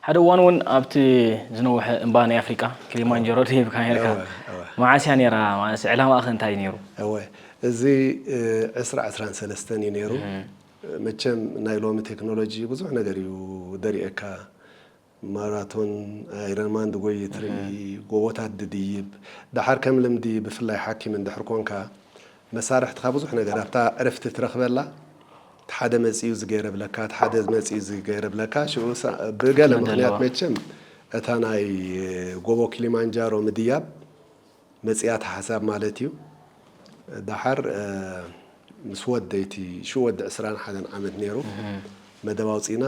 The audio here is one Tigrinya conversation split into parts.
ሓደ እዋን እውን ኣብቲ ዝነውሐ እምባ ናይ ኣፍሪቃ ክሊማንጀሮ ደይብካ ነርካ መዓስ እያ ነይራ ማለት ዕላማኣ ከ እንታይ እዩ ነይሩ እወ እዚ ዕስራ ዕስራን ሰለስተን እዩ ነይሩ መቸም ናይ ሎሚ ቴክኖሎጂ ብዙሕ ነገር እዩ ደሪኤካ ማራቶን፣ ኣይረንማን ድጎዪ ትርኢ፣ ጎቦታት ድድይብ፣ ደሓር ከም ልምዲ ብፍላይ ሓኪም እንድሕር ኮንካ መሳርሕትኻ ብዙሕ ነገር ኣብታ ዕርፍቲ ትረኽበላ እቲ ሓደ መጺኡ እዚ ገይረ እብለካ እቲ ሓደ መጺኡ እዚ ገይረ እብለካ ሽኡ ብገለ ምኽንያት መቸም እታ ናይ ጎቦ ኪሊማንጃሮ ምድያብ መጺኣት ሓሳብ ማለት እዩ ዳሓር ምስ ወደይ እቲ ሽኡ ወዲ ዕስራን ሓደን ዓመት ኔሩ መደብ ኣውጺእና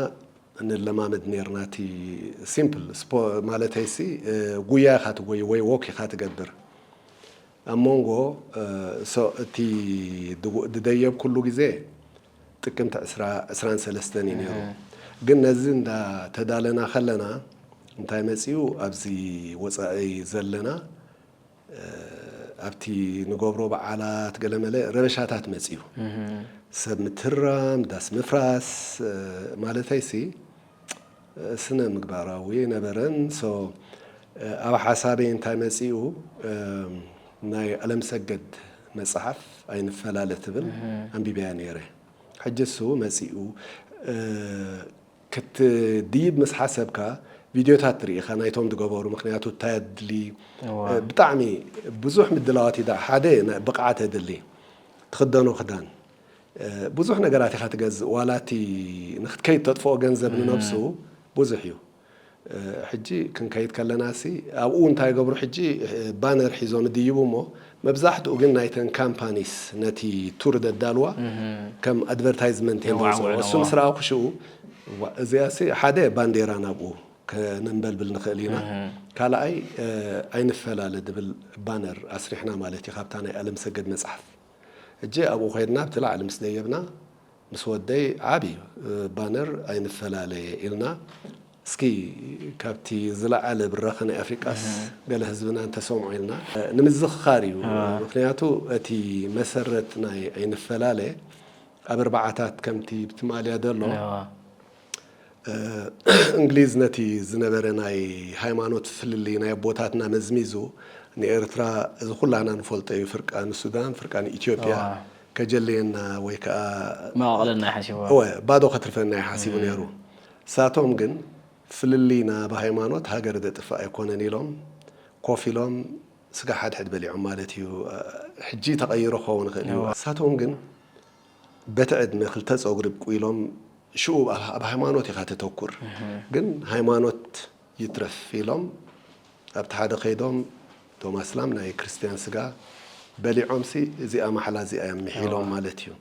ንለማመድ ኔርና እቲ ሲምፕል ማለተይ ሲ ጉያ ኢኻ ትጎይ ወይ ዎክ ኢኻ ትገብር ኣብ ሞንጎ እቲ ድደየብኩሉ ግዜ ጥቅምቲ ዕስራ ዕስራን ሰለስተን እዩ ነይሩ ግን ነዚ እንዳ ተዳለና ከለና እንታይ መጺኡ ኣብዚ ወጻኢ ዘለና ኣብቲ ንገብሮ በዓላት ገለመለ ረበሻታት መጺኡ ሰብ ምትህርራም ዳስ ምፍራስ ማለተይሲ ስነ ምግባራዊ ኣይነበረን so ኣብ ሓሳበይ እንታይ መጺኡ ናይ ኣለምሰገድ መጽሓፍ ኣይንፈላለ ትብል ኣንቢበያ ኔረ ሕጂ እሱ መጺኡ ክትድይብ ምስ ሓሰብካ ቪድዮታት ርኢኻ ናይቶም ዝገበሩ ምክንያቱ እንታይ ኣድሊ ብጣዕሚ ብዙሕ ምድላዋት ሓደ ብቕዓት የድሊ ትኽደኖ ክዳን ብዙሕ ነገራት ኢኻ ትገዝእ ዋላ እቲ ንክትከይድ ተጥፍኦ ገንዘብ ንነብሱ ብዙሕ እዩ። ሕጂ ክንከይድ ከለናሲ ኣብኡ እንታይ ይገብሩ ሕጂ ባነር ሒዞም ይድይቡ እሞ መብዛሕትኡ ግን ናይተን ካምፓኒስ ነቲ ቱር ዘዳልዋ ከም ኣድቨርታይዝመንት እየን ዘውፅእኦ የዋውዕኦ። እሱ ምስ ረኣኹ ሽኡ እዋእ እዚኣሲ ሓደ ባንዴራ ናብኡ ከነንበልብል ንኽእል ኢና ካልኣይ ኣይንፈላለ ዝብል ባነር ኣስሪሕና ማለት እዩ ካብታ ናይ ኣለምሰገድ መፅሓፍ። ሕጂ ኣብኡ ኼድና ኣብቲ ላዕሊ ምስ ደየብና ምስ ወደይ ዓቢ ባነር ኣይንፈላለየ ኢልና እስኪ ካብቲ ዝለዓለ ብራኸ ናይ ኣፍሪቃስ ገለ ህዝብና እንተሰምዖ ኢልና ንምዝኽኻር እዩ ምኽንያቱ እቲ መሰረት ናይ ኣይንፈላለ ኣብ ኣርባዓታት ከምቲ ብትማልያ ዘሎ እንግሊዝ ነቲ ዝነበረ ናይ ሃይማኖት ፍልልይ ናይ ኣቦታትና መዝሚዙ ንኤርትራ እዚ ኩላና ንፈልጦ እዩ ፍርቃ ንሱዳን ፍርቃ ንኢትዮጵያ እዋ ከጀልየና ወይ ከኣ መቓቕለና እዩ ሓሲቡ እወ ባዶ ከትርፈና እዩ ሓሲቡ ነይሩ። ንሳቶም ግን ፍልልይና ብሃይማኖት ሃገር ዘጥፍእ ኣይኮነን ኢሎም ኮፍ ኢሎም ስጋ ሓድሕድ በሊዖም ማለት እዩ ሕጂ ተቐይሩ ክኸውን ይኽእል እዩ ንሳቶም ግን በቲ ዕድመ ክልተ ጸጉሪ ኣብቁሎም ሽኡ ኣብ ሃይማኖት ኢኻ ተተኩር ግን ሃይማኖት ይትረፍ ኢሎም ኣብቲ ሓደ ከይዶም እቶም ኣስላም ናይ ክርስትያን ስጋ በሊዖምሲ እዚኣ ማሕላ እዚኣ እዮም ምሒሎም ማለት እዩ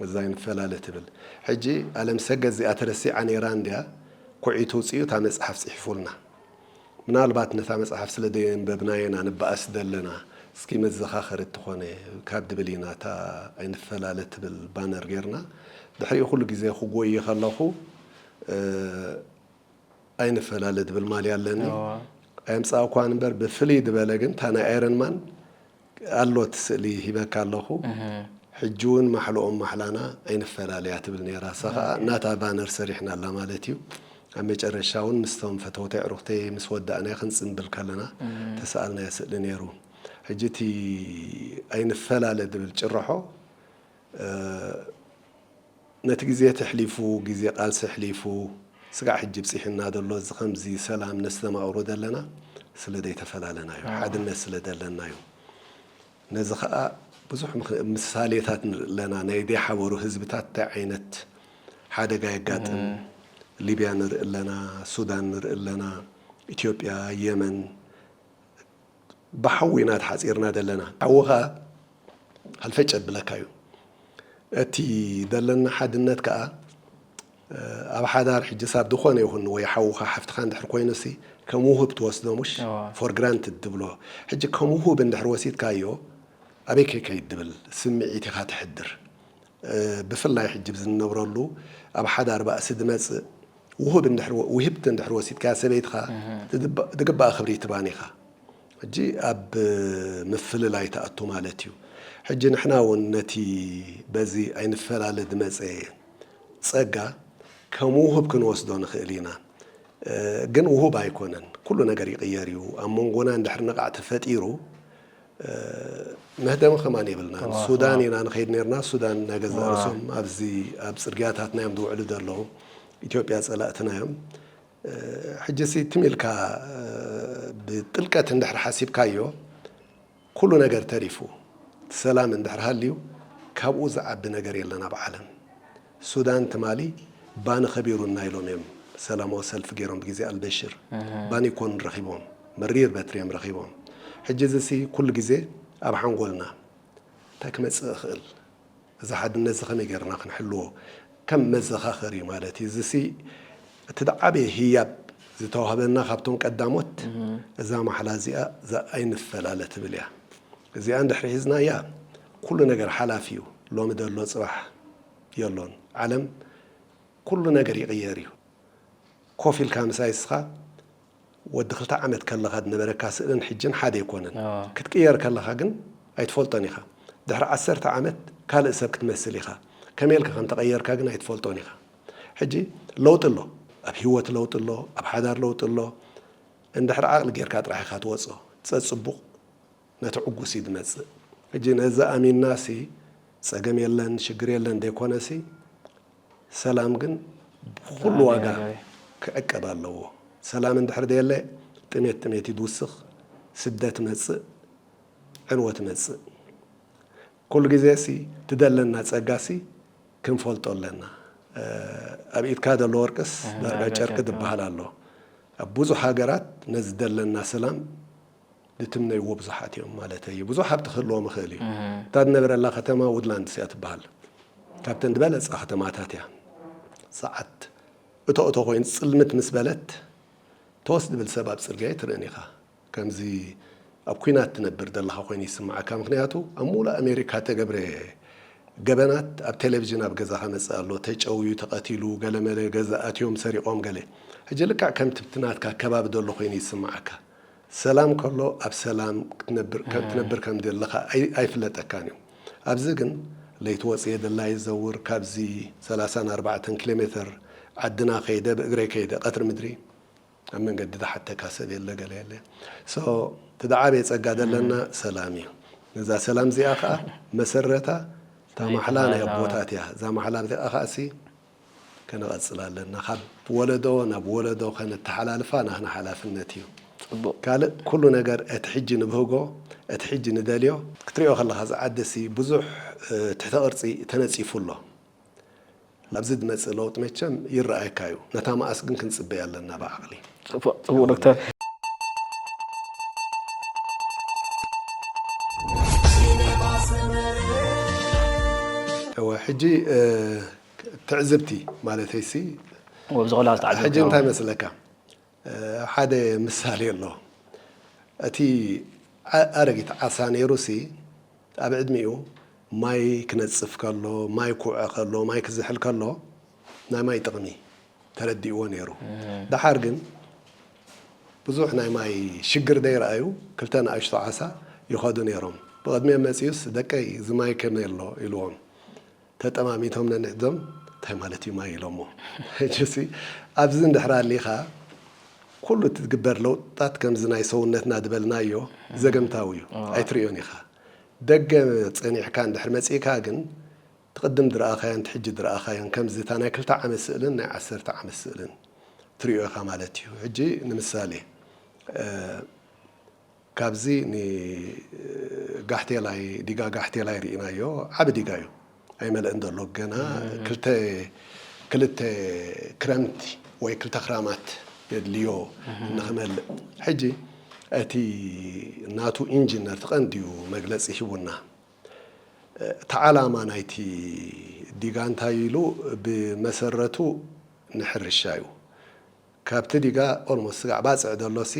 እዛ ኣይንፈላለ ትብል ሕጂ ኣለምሰገድ እዚኣ ተረሲዓ ኔራ እንድያ ኩዒቱ ኣውጺኡ እታ መጽሓፍ ጽሒፉልና ምናልባት ነታ መጽሓፍ ስለ ደየንበብናየን ኣንባኣስ ደለና እስኪ መዘኻኸሪት ትኾነ ካብ ድብል ኢና እታ ኣይንፈላለ ትብል ባነር ጌርና ድሕሪኡ ኩሉ ግዜ ክጎዪ ከለኹ ኣይንፈላለ ድብል ማልያ ኣለኒ ኣየምጻእኩዋን እምበር ብፍልይ ድበለ ግን እታ ናይ ኣይረን ማን ኣሎ እቲ ስእሊ ሂበካ ኣለኩ ሕጂ ውን ማሕልኦም ማሕላና ኣይንፈላለያ ትብል ኔራ እሳ ከኣ ናታ ባነር ሰሪሕናላ ማለት እዩ ኣብ መጨረሻ ውን ምስቶም ፈተውተይ ኣዕሩክተይ ምስ ወዳእናዮ ክንጽንብል ከለና ተሰኣልናዮ ስእሊ ኔሩ ሕጂ እቲ ኣይንፈላለ ዝብል ጭርሖ ነቲ ግዜ እቲ ኣሕሊፉ ግዜ ቃልሲ ኣሕሊፉ ስጋዕ ሕጂ ብጺሑና ዘሎ እዚ ከምዚ ሰላም ነስተማቅሮ ዘለና ስለ ደይተፈላለና እዩ ሓድነት ስለ ደለና እዩ ነዚ ከኣ ብዙሕ ምሳሌታት ንርኢ ኣለና ናይ ደይሓበሩ ህዝብታት እንታይ ዓይነት ሓደጋ የጋጥም ሊብያ ንርኢ ኣለና ሱዳን ንርኢ ኣለና ኢትዮጵያ የመን ብሓዊ ኢና ተሓጺርና ዘለና ሓውኻ ሃልፈጭ የብለካዩ እቲ ደለና ሓድነት ከኣ ኣብ ሓዳር ሕጂ ሳብ ድኾነ ይኹን ወይ ሓውኻ ሓፍትኻ እንድሕር ኮይኑሲ ከም ውሁብ ትወስዶ ሙሽ for granted ትብሎ ሕጂ ከም ውሁብ እንድሕር ወሲድካዮ ኣበይ ከይከይድ ድብል ስምዒት ኢኻ ተሕድር ብፍላይ ሕጂ ኣብዚ ንነብረሉ ኣብ ሓዳር ባእሲ ዝመጽእ ውሁብ እንድሕር ውህብቲ እንድሕር ወሲድካያ ሰበይትኻ ዝግባኣ ክብሪ ኣይትባን ኢኻ ሕጂ ኣብ ምፍልላይ ትኣቱ ማለት እዩ ሕጂ ንሕና ውን ነቲ በዚ ኣይንፈላለ ዝመጸ ጸጋ ከም ውሁብ ክንወስዶ ንኽእል ኢና ግን ውሁብ ኣይኮነን ኩሉ ነገር ይቕየር እዩ ኣብ መንጎና እንድሕር ንቓዕ ተፈጢሩ መህደሚ ከማን የብልናን ሱዳን ኢና ንኸይድ ነርና ሱዳን ናይ ገዛእ ርእሶም ኣብዚ ኣብ ጽርግያታትና እዮም ዝውዕሉ ዘለዉ ኢትዮጵያ ጸላእትና እዮም ሕጂሲ ትም ኢልካ ብጥልቀት እንድሕር ሓሲብካዮ ኩሉ ነገር ተሪፉ እቲ ሰላም እንድሕር ሃልዩ ካብኡ ዝዓቢ ነገር የለን ኣብ ዓለም ሱዳን ትማሊ ባኒ ከቢሩና ኢሎም እዮም ሰላማዊ ሰልፊ ገይሮም ብግዜ ኣልበሽር ባኒ ኮን ረኺቦም መሪር በትሪ እዮም ረኺቦም ሕጂ እዚ ሲ ኩሉ ግዜ ኣብ ሓንጎልና እንታይ ክመጽእ ይኽእል እዚ ሓድነት እዚ ከመይ ገይርና ክንሕልዎ ከም መዘኻኸሪ እዩ ማለት እዩ እዚ ሲ እቲ ዝዓበየ ህያብ ዝተዋህበና ካብቶም ቀዳሞት እዛ ማሕላ እዚኣ እዛ ኣይንፈላለ ትብል እያ እዚኣ እንድሕሪ ሒዝናያ ኩሉ ነገር ሓላፍ እዩ ሎሚ ደሎ ፅባሕ የሎን ዓለም ኩሉ ነገር ይቅየር እዩ ኮፍ ኢልካ ምሳይ እስኻ ወዲ ክልተ ዓመት ከለኻ ዝነበረካ ስእልን ሕጅን ሓደ ኣይኮነን ክትቅየር ከለኻ ግን ኣይትፈልጦን ኢኻ ድሕሪ ዓሰርተ ዓመት ካልእ ሰብ ክትመስል ኢኻ ከመይ ኢልካ ከም ተቀየርካ ግን ኣይትፈልጦን ኢኻ ሕጂ ለውጢ ኣሎ ኣብ ሂወት ለውጢ ኣሎ ኣብ ሓዳር ለውጢ ኣሎ እንድሕር ዓቅሊ ጌርካ ጥራሕ ኢኻ ትወጾ ጸጽቡቅ ነቲ ዕጉስ እዩ ዝመጽእ ሕጂ ነዚ ኣሚና ሲ ጸገም የለን ሽግር የለን ዘይኮነ ሲ ሰላም ግን ብኹሉ ዋጋ ክዕቀብ ኣለዎ ሰላም እንድሕር ዘየለ ጥሜት ጥሜት እዩ ዝውስኽ ስደት መጽእ ዕንወት መጽእ ኩሉ ግዜ ሲ ትደለና ጸጋ ሲ ክንፈልጦ ኣለና ኣብ ኢድካ ዘሎ ወርቅስ ዳርጋ ጨርቂ ዝበሃል ኣሎ ኣብ ብዙሕ ሃገራት ነዚ ዝደለና ሰላም ዝትምነይዎ ብዙሓት እዮም ማለተይ እዩ። ብዙሕ ሃብቲ ክህልዎም ይኽእል እዩ። እታ ዝነብረላ ከተማ ውድላንድስ እያ ትበሃል። ካብተን ዝበለጻ ከተማታት እያ። ሰዓት እቶ እቶ ኮይኑ ጽልምት ምስ በለት ቶስ ዝብል ሰብ ኣብ ጽርግያ ኣይትርእን ኢኻ። ከምዚ ኣብ ኲናት ትነብር ዘለኻ ኮይኑ ይስምዓካ። ምኽንያቱ ኣብ ምሉእ ኣሜሪካ እተገብረ ገበናት ኣብ ቴሌቭዥን ኣብ ገዛኻ መጽእ ኣሎ። ተጨውዩ፣ ተቐቲሉ፣ ገለመለ ገዛ ኣትዮም ሰሪቖም ገለ። ሕጂ ልክዕ ከምቲ ኣብቲ ናትካ ከባቢ ዘሎ ኮይኑ ይስምዓካ። ሰላም ከሎ ኣብ ሰላም ክትነብር ትነብር ከም ዘለኻ ኣይ ኣይፍለጠካን እዩ። ኣብዚ ግን ለይቲ ወጺኤ ደላዪ ዘውር ካብዚ ሰላሳን ኣርባዕተን ኪሎ ሜተር ዓድና ከይደ ብእግረይ ከይደ ቀትሪ ምድሪ ኣብ መንገዲ ዝሓተካ ሰብ የለ ገለ የለ so እቲ ዝዓበየ ጸጋ ዘለና ሰላም እዩ። ነዛ ሰላም እዚኣ ከኣ መሰረታ እታ ማሕላ ናይ ኣቦታት እያ። እዛ ማሕላ እዚኣ ከኣሲ ከነቐጽል ኣለና ካብ ወለዶ ናብ ወለዶ ከነተሓላልፋ ናህና ሓላፍነት እዩ። ጽቡቅ። ካልእ ኩሉ ነገር እቲ ሕጂ ንብህጎ እቲ ሕጂ ንደልዮ። ክትሪኦ ከለኻ እዛ ዓዲ ሲ ብዙሕ ትሕተ ቅርጺ ተነጺፉ ኣሎ ኣብዚ ዝመጽእ ለውጢ መቸም ይረኣየካ እዩ ነታ መኣስ ግን ክንጽበያ ኣለና ብዓቕሊ። ጽቡቅ ጽቡቅ ዶክተር። እወ ሕጂ ትዕዝብቲ ማለተይሲ ወብዚ ቆልዓ ዝተዓዘብካዮ? ሕጂ እንታይ መስለካ ሓደ ምሳሌ ኣሎ እቲ ኣረጊት ዓሳ ነይሩሲ ኣብ ዕድሚኡ ማይ ክነጽፍ ከሎ ማይ ክውዐ ከሎ ማይ ክዝሕል ከሎ ናይ ማይ ጥቕሚ ተረዲእዎ ነይሩ ደሓር ግን ብዙሕ ናይ ማይ ሽግር ደይረኣዩ ክልተ ንኣሽቱ ዓሳ ይኸዱ ነይሮም ብቕድሚኦም መጺኡስ ደቀይ እዚ ማይ ከመይ ኣሎ ኢልዎም ተጠማሚቶም ነንሕድዞም እንታይ ማለት እዩ ማይ ኢሎሞ ሕጂሲ ኣብዚ እንድሕር ኣሊኻ ኩሉ እቲ ዝግበር ለውጥታት ከምዚ ናይ ሰውነትና ዝበልናዮ ዘገምታዊ እዩ ኣይትርእዮን ኢኻ ደገ ጸኒሕካ እንድሕር መጺእካ ግን እቲ ቅድም ዝረኣኻዮን እቲ ሕጂ ዝረኣኻዮን ከምዚ እታ ናይ ክልተ ዓመት ስእልን ናይ ዓሰርተ ዓመት ስእልን ትሪኦ ኢኻ ማለት እዩ ሕጂ ንምሳሌ ካብዚ ን ጋሕቴላይ ዲጋ ጋሕቴላይ ሪኢናዮ ዓቢ ዲጋ ዩ ኣይመለእን ዘሎ ገና ክልተ ክልተ ክረምቲ ወይ ክልተ ክራማት የድልዮ ንክመልእ ሕጂ እቲ ናቱ ኢንጅነር እቲ ቀንዲ ዩ መግለጺ ሂቡና እቲ ዓላማ ናይቲ ዲጋ እንታይ ኢሉ ብመሰረቱ ንሕርሻ ዩ ካብቲ ዲጋ ኦልሞስት ስጋዕ ባጽዕ ዘሎሲ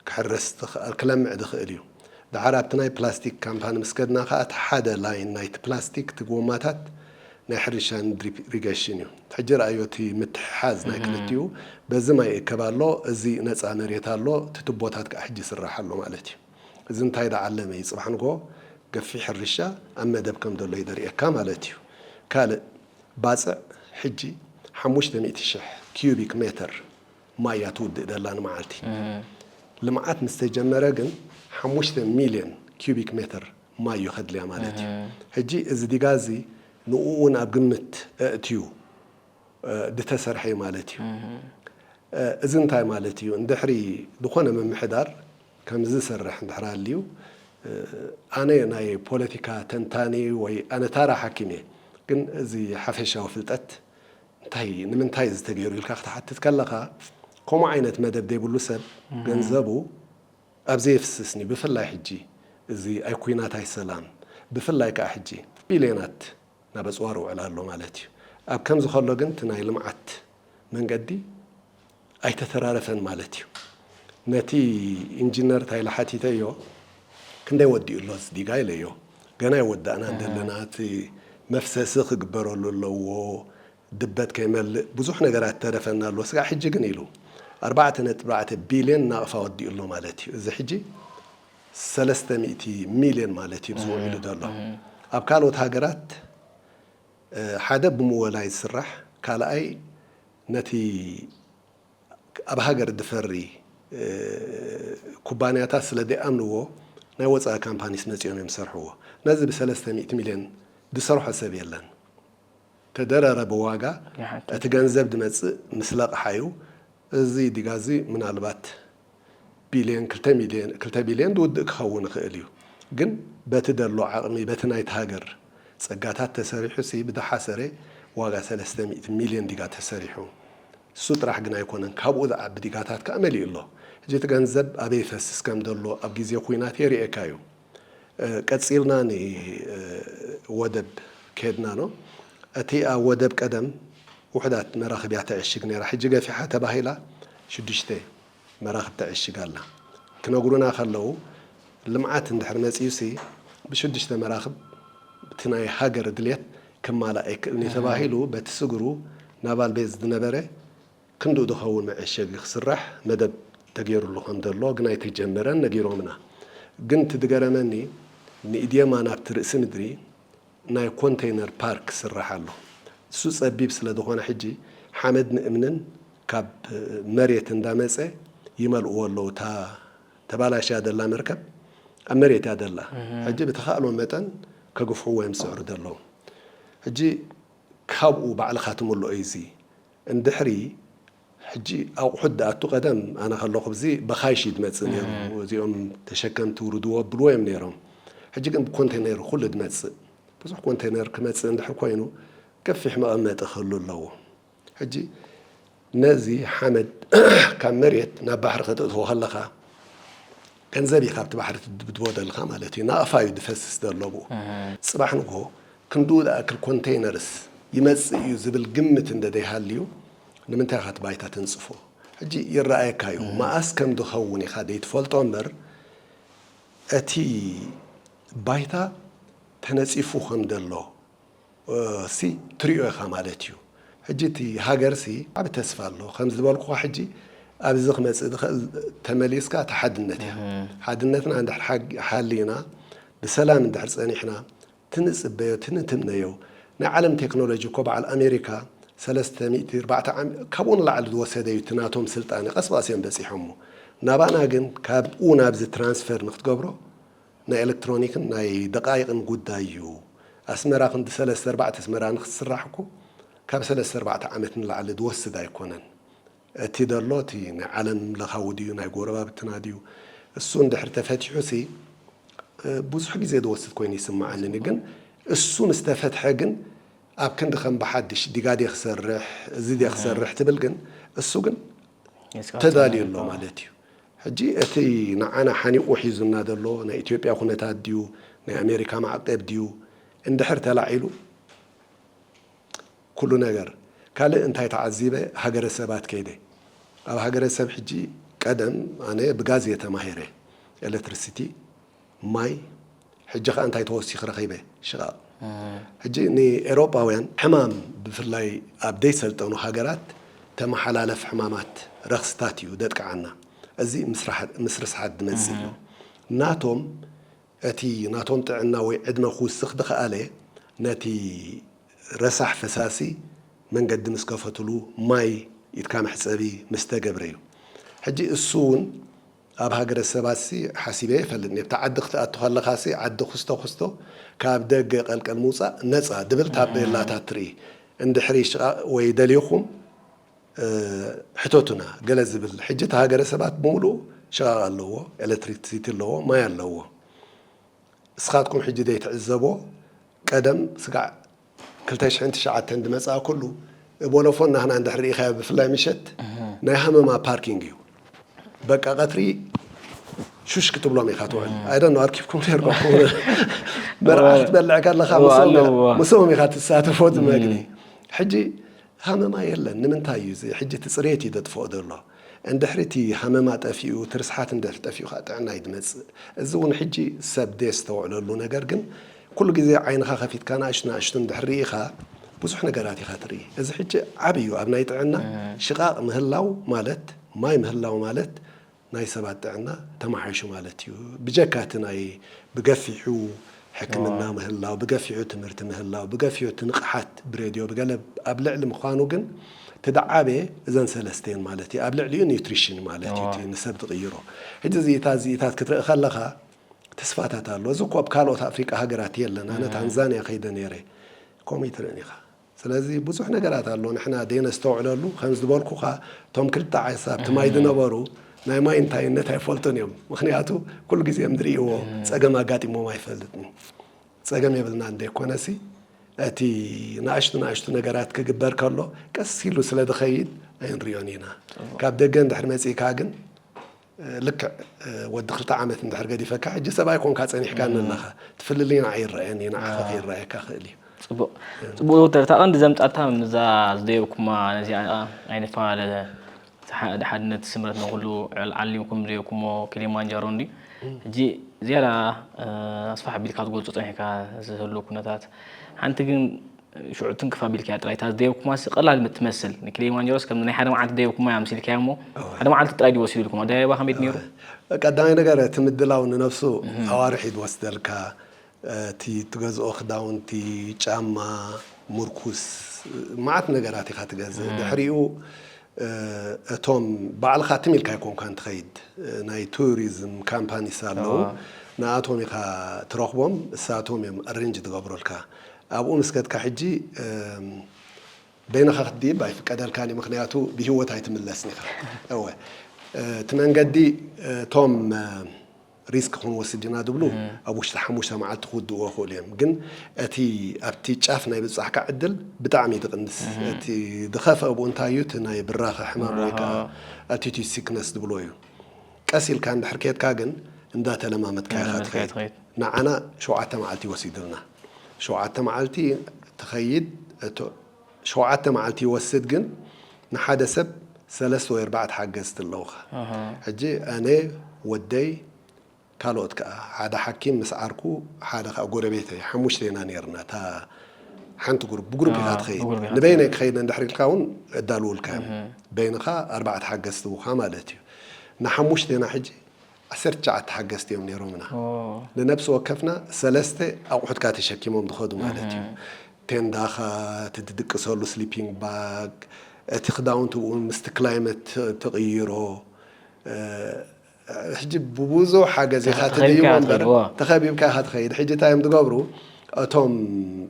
ክሕረስ ዝክኣል ክለምዕ ዝክእል እዩ። ደሓር ኣብቲ ናይ ፕላስቲክ ካምፓኒ ምስ ከድና ከኣ እቲ ሓደ ላይን ናይቲ ፕላስቲክ እቲ ጎማታት ናይ ሕርሻን ድሪፕ ኢሪገሽን እዩ። ሕጂ ረኣዮ እቲ ምትሕሓዝ ናይ ክልቲኡ በዚ ማይ ይእከብ ኣሎ እዚ ነጻ መሬት ኣሎ እቲ ቱቦታት ከኣ ሕጂ ይስራሕ ኣሎ ማለት እዩ። እዚ እንታይ ዝዓለመ እዩ ጽባሕ ንግሆ ገፊሕ ሕርሻ ኣብ መደብ ከም ዘሎ እዩ ዘርእየካ ማለት እዩ። ካልእ ባጽዕ ሕጂ ሓሙሽተ ሚእቲ ሽሕ ኪዩቢክ ሜተር ማይ እያ ትውድእ ዘላ ንመዓልቲ። ልምዓት ምስ ተጀመረ ግን ሓሙሽተ ሚልዮን ኪዩቢክ ሜተር ማይ እዩ ከድልያ ማለት እዩ። ሕጂ እዚ ዲጋ እዚ ንኡ'ውን ኣብ ግምት ኣእትዩ ዝተሰርሐ እዩ ማለት እዩ። እዚ እንታይ ማለት እዩ? ድሕሪ ዝኾነ ምምሕዳር ከምዚ ዝሰርሕ እንድሕር ኣልዩ ኣነ ናይ ፖለቲካ ተንታኒ ወይ ኣነ ታራ ሓኪም እየ ግን እዚ ሓፈሻዊ ፍልጠት እንታይ ንምንታይ እዚ ተገይሩ ኢልካ ክትሓትት ከለኻ ከምኡ ዓይነት መደብ ዘይብሉ ሰብ ገንዘቡ ኣብዚ የፍስስኒ ብፍላይ ሕጂ እዚ ኣይ ኩናት ኣይ ሰላም ብፍላይ ከኣ ሕጂ ቢልዮናት ናብ ኣጽዋር ይውዕል ኣሎ ማለት እዩ ኣብ ከምዚ ከሎ ግን እቲ ናይ ልምዓት መንገዲ ኣይተተራረፈን ማለት እዩ ነቲ ኢንጂነር ታይለ ሓቲተዮ ክንደይ ወዲኡ ኣሎ እቲ ዲጋ ኢለዮ ገና ኣይወዳእናን ዘለና እቲ መፍሰሲ ክግበረሉ ኣለዎ ድበት ከይመልእ ብዙሕ ነገራት ዝተረፈና ኣሎ ስጋዕ ሕጂ ግን ኢሉ ኣርባዕተ ነጥቢ ኣርባዕተ ቢልየን ናቕፋ ወዲኡ ኣሎ ማለት እዩ እዚ ሕጂ ሰለስተ ሚእቲ ሚልየን ማለት እዩ እዚ ውዒሉ ዘሎ ኣብ ካልኦት ሃገራት ሓደ ብምወላይ ዝስራሕ ካልኣይ ነቲ ኣብ ሃገር ድፈሪ ኩባንያታት ስለ ደይኣምንዎ ናይ ወጻኢ ካምፓኒስ መጺኦም እዮም ዝሰርሕዎ ነዚ ብሰለስተ ሚእቲ ሚልዮን ድሰርሖ ሰብ የለን ተደረረ ብዋጋ እቲ ገንዘብ ድመጽእ ምስ ለቕሓ እዩ እዚ ዲጋ እዚ ምናልባት ቢልየን ክልተ ቢልየን ዝውድእ ክኸውን ይኽእል እዩ ግን በቲ ደሎ ዓቕሚ በቲ ናይቲ ሃገር ጸጋታት ተሰሪሑሲ ብደሓሰረ ዋጋ ሰለስተ ሚእቲ ሚልየን ዲጋ ተሰሪሑ እሱ ጥራሕ ግን ኣይኮነን ካብኡ ዝዓቢ ዲጋታት ከኣ መሊኡ ኣሎ ሕጂ እቲ ገንዘብ ኣበይ ይፈስስ ከም ደሎ ኣብ ግዜ ኩናት የርእየካ እዩ ቀጺልና ን ወደብ ከድና ኣሎ እቲኣ ወደብ ቀደም ውሑዳት መራኽቢያ ተዕሽግ ነራ ሕጂ ገፊሓ ተባሂላ ሽዱሽተ መራኽብ ተዕሽግ ኣላ ክነግሩና ከለዉ ልምዓት እንድሕር መጺኡሲ ብሽዱሽተ መራኽብ እቲ ናይ ሃገር ድልየት ክማላእ ኣይክእልንዩ ተባሂሉ በቲ ስግሩ ናቫል ቤዝ ዝነበረ ክንድኡ ዝኸውን መዐሸጊ ክስራሕ መደብ ተገይሩሉ ከምዘሎ ግን ኣይተጀመረን ነጊሮምና ግን እቲ ዝገረመኒ ንኢድየማ ናብቲ ርእሲ ምድሪ ናይ ኮንተይነር ፓርክ ክስራሕ ኣሎ እሱ ፀቢብ ስለዝኾነ ሕጂ ሓመድን እምንን ካብ መሬት እንዳመፀ ይመልእዎ ኣለው እታ ተባላሽያ ዘላ መርከብ ኣብ መሬት እያ ዘላ ሕጂ ብተኻእሎ መጠን ከግፍሕዎ እዮም ዝፅዕሩ ዘለው ሕጂ ካብኡ ባዕልኻ ትምልኦ እዩ እዚ እንድሕሪ ሕጂ ኣቁሑት ድኣቱ ቀደም ኣነ ከለኩ ኣብዚ በካይሽ እዩ ድመጽእ ነይሩ እዚኦም ተሸከምቲ ውርድዎ ኣብልዎ እዮም ነይሮም ሕጂ ግን ብኮንተነይር ኩሉ ድመጽእ ብዙሕ ኮንተነይር ክመጽእ እንድሕር ኮይኑ ገፊሕ መቀመጢ ክህሉ ኣለዎ ሕጂ ነዚ ሓመድ ካብ መሬት ናብ ባሕሪ ከተእትዎ ከለካ ገንዘብ እዩ ካብቲ ባሕሪ ትድብድቦ ደልካ ማለት እዩ ናቅፋ እዩ ድፈስስ ዘሎ ብኡ ጽባሕ ንግሆ ክንድኡ ድኣክል ኮንተይነርስ ይመጽእ እዩ ዝብል ግምት እንደ ደይሃልዩ ንምንታይ ኢኻ እቲ ባይታ ትንጽፎ ሕጂ ይረኣየካ እዩ መኣስ ከም ዝኸውን ኢኻ ዘይትፈልጦ እምበር እቲ ባይታ ተነጺፉ ከም ዘሎ ሲ ትሪኦ ኢኻ ማለት እዩ ሕጂ እቲ ሃገር ሲ ዓቢ ተስፋ ኣሎ ከም ዝበልኩኻ ሕጂ ኣብዚ ክመጽእ ዝኽእል ተመሊስካ እቲ ሓድነት እያ ሓድነትና እንድሕር ሓሊና ብሰላም እንድሕር ጸኒሕና ትንጽበዮ ትንትምነዮ ናይ ዓለም ቴክኖሎጂ እኮ በዓል ኣሜሪካ ሰለስተ ሚእቲ ኣርባዕተ ዓመት ካብኡ ንላዕሊ ዝወሰደ እዩ እቲ ናቶም ስልጣነ ቀስ ብቀስ እዮም በጺሖሞ ናባና ግን ካብኡ ናብዚ ትራንስፈር ንክትገብሮ ናይ ኤለክትሮኒክን ናይ ደቃይቅን ጉዳይ እዩ ኣስመራ ክንዲ ሰለስተ ኣርባዕተ ኣስመራ ንክትስራሕ እኮ ካብ ሰለስተ ኣርባዕተ ዓመት ንላዕሊ ዝወስድ ኣይኮነን እቲ ደሎ እቲ ናይ ዓለም ለኻዊ ድዩ ናይ ጎረባብትና ድዩ እሱ እንድሕር ተፈቲሑሲ ብዙሕ ግዜ ዝወስድ ኮይኑ ይስመዓኒ እኔ ግን እሱ ምስ ተፈትሐ ግን ኣብ ክንዲ ከም ብሓድሽ ዲጋ ድየ ክሰርሕ እዚ ድየ ክሰርሕ ትብል ግን እሱ ግን ተዳልዩ ኣሎ ማለት እዩ ሕጂ እቲ ንዓና ሓኒቑ ሒዙና ዘሎ ናይ ኢትዮጵያ ኩነታት ድዩ ናይ ኣሜሪካ ማዕቀብ ድዩ እንድሕር ተላዒሉ ኩሉ ነገር ካልእ እንታይ ተዓዚበ ሃገረ ሰባት ከይደ ኣብ ሃገረ ሰብ ሕጂ ቀደም ኣነ ብጋዝ እየ ተማሂረ ኤለትርሲቲ ማይ ሕጂ ከኣ እንታይ ተወሲኪ ረኪበ ሽቃቅ ሕጂ ንኤሮጳውያን ሕማም ብፍላይ ኣብ ደይ ሰልጠኑ ሃገራት ተመሓላለፍ ሕማማት ረክስታት እዩ ደጥቅዓና እዚ ምስ ርስሓት ድመጽእ እዩ ናቶም እቲ ናቶም ጥዕና ወይ ዕድመ ክውስኽ ድኸኣለ ነቲ ረሳሕ ፈሳሲ መንገዲ ምስ ከፈትሉ ማይ ኢድካ መሕጸቢ ምስ ተገብረ እዩ ሕጂ እሱ ውን ኣብ ሃገረ ሰባትሲ ሓሲበ ይፈልጥ ኔብታ ዓዲ ክትኣቱ ከለኻሲ ዓዲ ኩስቶ ኩስቶ ካብ ደገ ቀልቀል ምውጻእ ነጻ ድብል ታቤላታት ትርኢ እንድሕሪ ሽቓቕ ወይ ደሊኹም ሕተቱና ገለ ዝብል ሕጂ እቲ ሃገረ ሰባት ብምሉኡ ሽቓቕ ኣለዎ ኤለትሪትሲቲ ኣለዎ ማይ ኣለዎ እስኻትኩም ሕጂ ዘይትዕዘቦ ቀደም ስጋዕ ክልተ ሽሕን ትሽዓተን ድመጽኣ ኩሉ ቦሎፎን ናህና እንድሕር ርኢኻዮ ብፍላይ ምሸት ናይ ሃመማ ፓርኪንግ እዩ በቃ ቀትሪ ሹሽ ክትብሎም ኢኻ ትውዕል ኣይደን ነው ኣርኪብኩም ነርኩም መርዓ ክትበልዕ ከለኻ ምስኦም ኢኻ ትሳተፎ ዝመግቢ ሕጂ ሃመማ የለን ንምንታይ እዩ እዚ ሕጂ እቲ ጽሬት እዩ ዘጥፍኦ ዘሎ እንድሕሪ እቲ ሃመማ ጠፊኡ እቲ ርስሓት እንድሕሪ ጠፊኡ ከኣ ጥዕና እዩ ዝመጽእ እዚ ውን ሕጂ ሰብ ዘየስተውዕለሉ ነገር ግን ኩሉ ግዜ ዓይንኻ ከፊትካ ናእሽቱ ናእሽቱ እንድሕሪ ርኢኻ ብዙሕ ነገራት ኢኻ ትርኢ እዚ ሕጂ ዓቢ እዩ ኣብ ናይ ጥዕና ሽቓቕ ምህላው ማለት ማይ ምህላው ማለት ናይ ሰባት ጥዕና ተማሓይሹ ማለት እዩ። ብጀካ እቲ ናይ ብገፊሑ ሕክምና ምህላው፣ ብገፊሑ ትምህርቲ ምህላው፣ ብገፊሑ እቲ ንቕሓት ብሬድዮ ብገለ ኣብ ልዕሊ ምዃኑ ግን እቲ ድዓበየ እዘን ሰለስተ እየን ማለት እዩ። ኣብ ልዕሊኡ ኒውትሪሽን ማለት እዩ እቲ ንሰብ ዝቕይሮ። ሕጂ እዚ እታ እዚ እታት ክትርኢ ከለኻ ተስፋታት ኣሎ። እዚ እኮ ኣብ ካልኦት ኣፍሪቃ ሃገራት የለን። ኣነ ታንዛንያ ከይደ ነይረ ከምኡ ኣይትርእን ኢኻ። ስለዚ ብዙሕ ነገራት ኣሎ ንሕና ደይነስተውዕለሉ ከምዚ ዝበልኩኻ እቶም ክልተ ዓሳ ኣብቲ ማይ ዝነበሩ ናይ ማይ እንታይነት ኣይፈልጡን እዮም ምኽንያቱ ኩሉ ግዜ ዝርእይዎ ጸገም ኣጋጢሞም ኣይፈልጥን ጸገም የብልናን ዘይኮነሲ እቲ ንኣሽቱ ንኣሽቱ ነገራት ክግበር ከሎ ቀስ ኢሉ ስለ ዝኸይድ ኣይንሪኦን ኢና ካብ ደገ እንድሕር መጺእካ ግን ልክዕ ወዲ ክልተ ዓመት እንድሕር ገዲፈካ ሕጂ ሰብኣይ ኮንካ ጸኒሕካኒ ኣለኻ ትፍልልይና ኣይረኣን እዩ ንዓኻ ከይረኣየካ ክእል እዩ። ጽቡቅ ጽቡቅ ዶክተር እታ ቀንዲ ዘምጻታ ምዛ ዝደየብኩማ ነዚኣ ኣይንፈላለ እቲ ሓድነት ስምረት ንኩሉ ዓሊምኩም ዝደየብኩሞ ኪሊማንጃሮ እንድዩ ሕጂ ዝያዳ ኣስፋሕ ኣቢልካ ትገልጾ ጸኒሕካ ዝህሉ ኩነታት ሓንቲ ግን ሽዑ ትንክፍ ኣቢልካያ ጥራይ እታ ዝደየብኩማሲ ቀላል ምትመስል ንኪሊማንጀሮስ ከም ናይ ሓደ መዓልቲ ደየብኩማያ ኣምሲልካያ እሞ ሓደ መዓልቲ ጥራይ ድዩ ወሲዱልኩም ኣደያይባ ከመይ ድዩ ነይሩ? ቀዳማይ ነገር እቲ ምድላው ንነብሱ ኣዋርሕ እዩ ዝወስደልካ እቲ ትገዝኦ ክዳውንቲ ጫማ ሙርኩስ መዓት ነገራት ኢኻ ትገዝእ ድሕሪኡ እቶም ባዕልኻ ትም ኢልካ ኣይኮንካን ትኸይድ ናይ ቱሪዝም ካምፓኒስ ኣለዉ ንኣቶም ኢኻ ትረኽቦም እሳቶም እዮም ኣሬንጅ ዝገብሩልካ ኣብኡ ምስ ከድካ ሕጂ በይንኻ ክትድይብ ኣይፍቀደልካን እዩ ምኽንያቱ ብሂወት ኣይትምለስን ኢኻ እወ እቲ መንገዲ እቶም ሪስክ ክንወስድ ኢና ዝብሉ ኣብ ውሽጢ ሓሙሽተ መዓልቲ ክውድእዎ ይኽእሉ እዮም ግን እቲ ኣብቲ ጫፍ ናይ ብጻሕካ ዕድል ብጣዕሚ እዩ ዝቕንስ እቲ ዝኸፍኣ ብኡ እንታይ እዩ እቲ ናይ ብራኸ ሕማም ወይ ከኣ ኣቲቲዩድ ሲክነስ ዝብልዎ እዩ ቀስ ኢልካ እንድሕር ከድካ ግን እንዳተለማመድካ ኢኻ ትኸይድ ንዓና ሸውዓተ መዓልቲ እዩ ወሲዱልና። ሸውዓተ መዓልቲ ትኸይድ እቶ ሸውዓተ መዓልቲ ይወስድ ግን ንሓደ ሰብ ሰለስተ ወይ ኣርባዕተ ሓገዝቲ ኣለውኻ ሕጂ ኣነ ወደይ ካልኦት ከኣ ሓደ ሓኪም ምስ ዓርኩ ሓደ ከኣ ጎረቤተይ ሓሙሽተ ኢና ኔርና እታ ሓንቲ ጉሩፕ ብጉሩፕ ኢኻ ትኸይድ ንበይነይ ክኸይድ እንድሕር ኢልካ እውን እዳልውልካ እዮም በይንኻ ኣርባዕተ ሓገዝቲ እውካ ማለት እዩ ንሓሙሽተ ኢና ሕጂ ዓሰርተ ትሽዓተ ሓገዝቲ እዮም ነይሮምና። ንነብሲ ወከፍና ሰለስተ ኣቑሑትካ ተሸኪሞም ዝኸዱ ማለት እዩ። ቴንዳኻ፣ እቲ ትድቅሰሉ ስሊፒንግ ባግ፣ እቲ ክዳውንቲ እውን ምስቲ ክላይመት ትቕይሮ፣ ሕጂ ብብዙሕ ሓገዝ ኢኻ ትድይቦ እምበር፣ ተኸቢብካ ኢኻ ትኸይድ። ሕጂ እንታይ እዮም ዝገብሩ፣ እቶም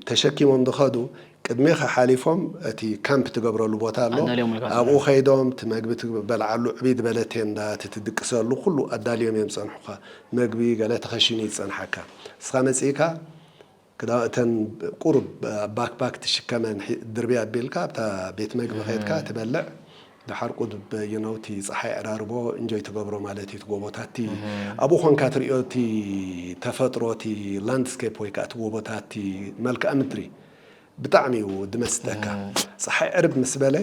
ተሸኪሞም ዝኸዱ ቅድሜኻ ሓሊፎም እቲ ካምፕ ትገብረሉ ቦታ ኣሎ ኣዳልዮም ኢልካ ትብለኒ። ኣብኡ ከይዶም እቲ መግቢ ትበልዓሉ ዕብይ ዝበለ ቴንዳ እቲ ትድቅሰሉ ኩሉ ኣዳልዮም እዮም ዝጸንሑኻ መግቢ ገለ ተኸሺኑ እዩ ዝጸንሓካ ንስኻ መጺእካ ክዳ እተን ቁሩብ ኣብ ባክፓክ ትሽከመን ሒ ድርብይ ኣቢልካ ኣብታ ቤት መግቢ ከድካ ትበልዕ ደሓር ቁድብ you know እቲ ጸሓይ ዕራርቦ እንጆይ ትገብሮ ማለት እዩ እቲ ጎቦታት እቲ ኣብኡ ኮንካ ትርእዮ እቲ ተፈጥሮ እቲ ላንድስኬፕ ወይ ከኣ እቲ ጎቦታት እቲ መልክኣ ምድሪ ብጣዕሚ እዩ ድመስጠካ ጸሓይ ዕርብ ምስ በለ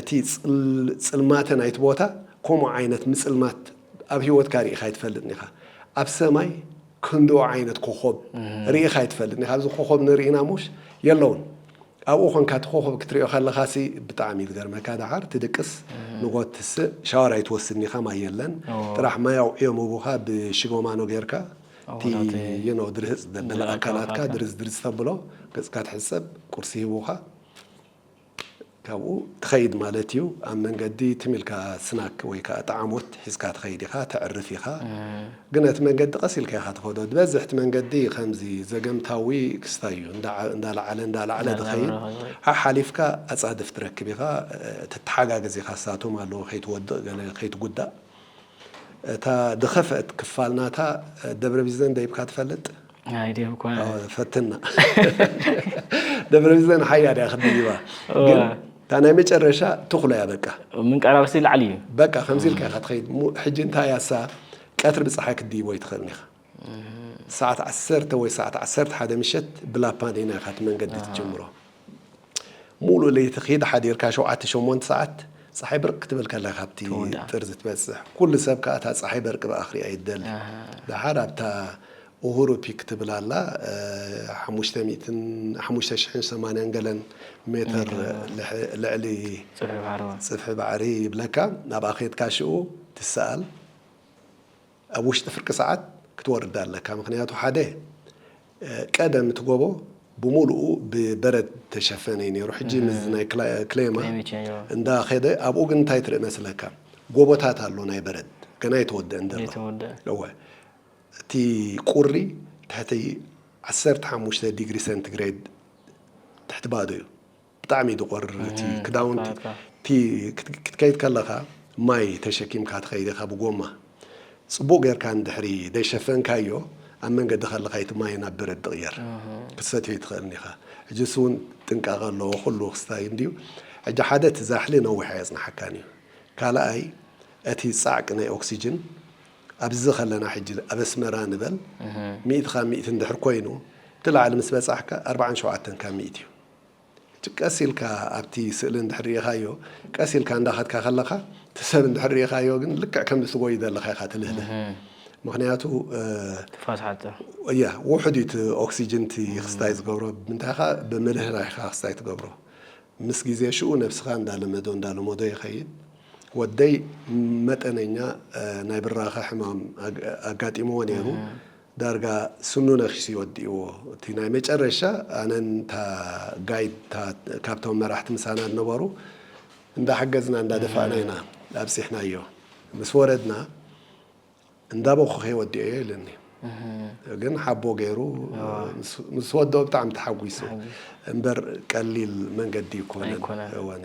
እቲ ጽልማተ ናይቲ ቦታ ከምኡ ዓይነት ምጽልማት ኣብ ሂወትካ ርኢኻ ኣይትፈልጥን ኢኻ ኣብ ሰማይ ክንድኡ ዓይነት ኮኾብ ርኢኻ ኣይትፈልጥን ኢኻ፣ ኣብዚ ኮኾብ ንርኢና እሞሽ የለውን፣ ኣብኡ ኮንካ እቲ ኮኾብ ክትሪኦ ከለኻሲ ብጣዕሚ እዩ ዝገርመካ፣ ደሓር ትድቅስ ንጎት ትስእ ሻወር ኣይትወስድን ኢኻ ማይ የለን ጥራሕ ማይ ኣውዕዮም ህቡኻ ብሽጎማኖ ጌርካ እቲ you know ድርህጽ ዘበለ ኣካላትካ ድርዝ ድርዝ ተብሎ ገጽካ ትሕጸብ ቁርሲ ሂቡኻ ካብኡ ትኸይድ ማለት እዩ። ኣብ መንገዲ ትም ኢልካ ስናክ ወይ ከኣ ጠዓሞት ሒዝካ ትኸይድ ኢኻ፣ ተዕርፍ ኢኻ። ግን እቲ መንገዲ ቀስ ኢልካ ኢኻ ትኸዶ። ዝበዝሕ እቲ መንገዲ ከምዚ ዘገምታዊ ክስታይ እዩ። እንዳ እንዳለዓለ እንዳለዓለ ዝኸይድ። ሓሓሊፍካ ኣጻድፍ ትረክብ ኢኻ። ትተሓጋገዝ ኢኻ፣ እሳቶም ኣለዉ ከይትወድቕ ገለ ከይትጉዳእ። እታ ድኸፍእት ክፋል ናታ ደብረ ቢዘን ደይብካ ትፈልጥ? ኣይደብኳን። ኣወ ፈትና ደብረ ቢዘን ሓያ ድያ ክትድይባ ግን እታ ናይ መጨረሻ ትኹሎ እያ በቃ። ምንቃራብሲ ላዕሊ እዩ። በቃ ከምዚ ኢልካ ኢኻ ትኸይድ። ሕጂ እንታይ እያ እሳ ቀትሪ ብጸሓይ ክትድይቦ ኣይትኽእልን ኢኻ። ሰዓት ዓሰርተ ወይ ሰዓት ዓሰርተ ሓደ ምሸት ብላፓን ኢና ኢኻ እቲ መንገዲ ትጅምሮ። ሙሉእ ለይቲ ኪድ ሓዲርካ ሸውዓተ ሸሞንተ ሰዓት ጸሓይ ብርቅ ክትብል ከላ ካብቲ ጥርዚ ትበጽሕ። ኩሉ ሰብ ከኣ እታ ጸሓይ በርቂ ብኣ ክሪኣ'ዩ ዝደሊ። ደሓር ኣብታ ኡሁሩ ፒክ ትብል ኣላ ሓሙሽተ ሚእትን ሓሙሽተ ሽሕን ሰማንያን ገለን ሜተር ልዕሊ ጽፍሒ ባሕሪ ይብለካ። ናብኣ ኬድካ ሽኡ ትሰኣል። ኣብ ውሽጢ ፍርቂ ሰዓት ክትወርድ ኣለካ ምኽንያቱ ሓደ ቀደም እቲ ጎቦ ብሙሉኡ ብበረድ ተሸፈነ እዩ ነይሩ ሕጂ ምስዚ ናይ ክሌማ እንዳ ከደ ኣብኡ ግን እንታይ ትርኢ መስለካ ጎቦታት ኣሎ ናይ በረድ ገና ኣይተወደእን ዘሎ እወ እቲ ቁሪ ትሕቲ ዓሰርተ ሓሙሽተ ዲግሪ ሰንትግሬድ ትሕቲ ባዶ እዩ። ብጣዕሚ ድቆር እቲ ክዳውንቲ እቲ ክትከይድ ከለኻ ማይ ተሸኪምካ ትኸይድ ኢኻ ብጎማ ጽቡቅ ጌርካ እንድሕሪ ደይሸፈንካዮ ኣብ መንገዲ ከለኻ ኢቲ ማይ ናብ በረድ ድቅየር ክትሰትዮ ኣይትኽእልን ኢኻ ሕጅስ ውን ጥንቃቀ ኣለዎ ኩሉ ክስታይ እንድዩ ሕጂ ሓደ እቲ ዛሕሊ ነዊሕ ኣየጽንሓካን ኢዩ ካልኣይ እቲ ጻዕቂ ናይ ኦክስጅን ኣብዚ ከለና ሕጂ ኣብ ኣስመራ ንበል ሚእቲ ካብ ሚእቲ እንድሕር ኮይኑ እቲ ላዕሊ ምስ በጻሕካ ኣርብዓን ሸውዓተን ካብ ሚእቲ ኢዩ ሕጂ ቀስ ኢልካ ኣብቲ ስእሊ እንድሕር ርኢኻዮ ቀስ ኢልካ እንዳኸድካ ከለኻ እቲ ሰብ እንድሕር ርኢኻዮ ግን ልክዕ ከም ዝትጎዩ ዘለኻ ኢኻ ትልህልህ ምኽንያቱ ትፋስ ሓጽር ያ ውሑድ እዩ እቲ ኦክሲጅን እቲ ክስታይ ዝገብሮ ብምንታይ ኢኻ ብምልህራህ ኢኻ ክስታይ ትገብሮ ምስ ግዜ ሽኡ ነብስኻ እንዳለመዶ እንዳለመዶ ይኸይድ ወደይ መጠነኛ ናይ ብራኸ ሕማም ኣጋጢምዎ ነይሩ ዳርጋ ስኑ ነኪሱ እዩ ወዲእዎ። እቲ ናይ መጨረሻ ኣነን እታ ጋይድ እታ ካብቶም መራሕቲ ምሳና ዝነበሩ እንዳሓገዝና እንዳደፋእና ኢና ኣብጺሕናዮ። ምስ ወረድና እንዳበኹኸ ወዲኤዮ ኢሉኒ። ግን ሓቦ ገይሩ ምስ ወድኦ ብጣዕሚ ተሓጒሱ። እምበር ቀሊል መንገዲ ኣይኮነን። ኣይኮነን። እወኒ።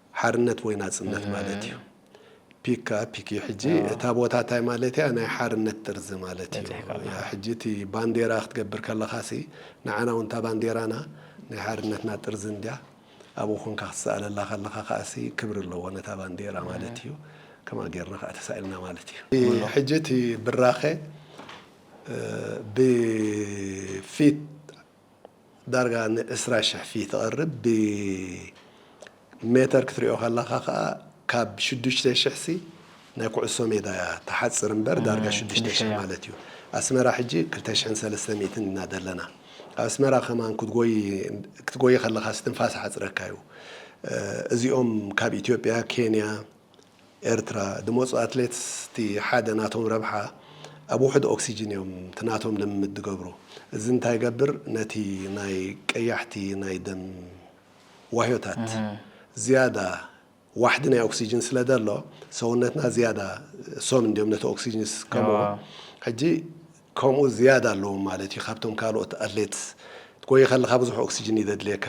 ሓርነት ወይ ናጽነት ማለት እዩ። ፒክ ከኣ ፒክ እዩ ሕጂ እታ ቦታ ታይ ማለት እያ ናይ ሓርነት ጥርዚ ማለት እዩ በጺሕካ ኣለኻ። ያ ሕጂ እቲ ባንዴራ ክትገብር ከለኻ ሲ ንዓና ውን እታ ባንዴራና ናይ ሓርነትና ጥርዚ እንድያ ኣብኡ ኮንካ ክትስኣለላ ከለኻ ከኣ ሲ ክብሪ ኣለዎ ነታ ባንዴራ ማለት እዩ ከምኣ ጌርና ከኣ ተሳኢልና ማለት እዩ። እ ሕጂ እቲ ብራኸ ብ ፊት ዳርጋ ን ዕስራ ሽሕ ፊት ተቅርብ ብ ሜተር ክትሪኦ ከለካ ከኣ ካብ ሽዱሽተ ሽሕ ሲ ናይ ኩዕሶ ሜዳ እያ ትሓጽር እምበር ዳርጋ ሽዱሽተ ሽሕ ማለት እዩ ኣስመራ ሕጂ ክልተ ሽሕን ሰለስተ ሚእትን ኢና ዘለና ኣብ ኣስመራ ከማን ክትጎይ ክትጎይ ከለካ ስትንፋስ ይሓጽረካ እዩ እዚኦም ካብ ኢትዮጵያ ኬንያ ኤርትራ ድመጹ ኣትሌትስ እቲ ሓደ ናቶም ረብሓ ኣብ ውሑድ ኦክሲጅን እዮም እቲ ናቶም ልምምድ ድገብሩ እዚ እንታይ ይገብር ነቲ ናይ ቀያሕቲ ናይ ደም ዋህዮታት ዝያዳ ዋሕዲ ናይ ኦክሲጅን ስለ ደሎ ሰውነትና ዝያዳ እሶም እንድዮም ነቲ ኦክሲጅን ዝስከምዎ ሕጂ ከምኡ ዝያዳ ኣለዎም ማለት እዩ ካብቶም ካልኦት ኣትሌትስ ትጎዪ ከለኻ ብዙሕ ኦክሲጅን እዩ ዘድልየካ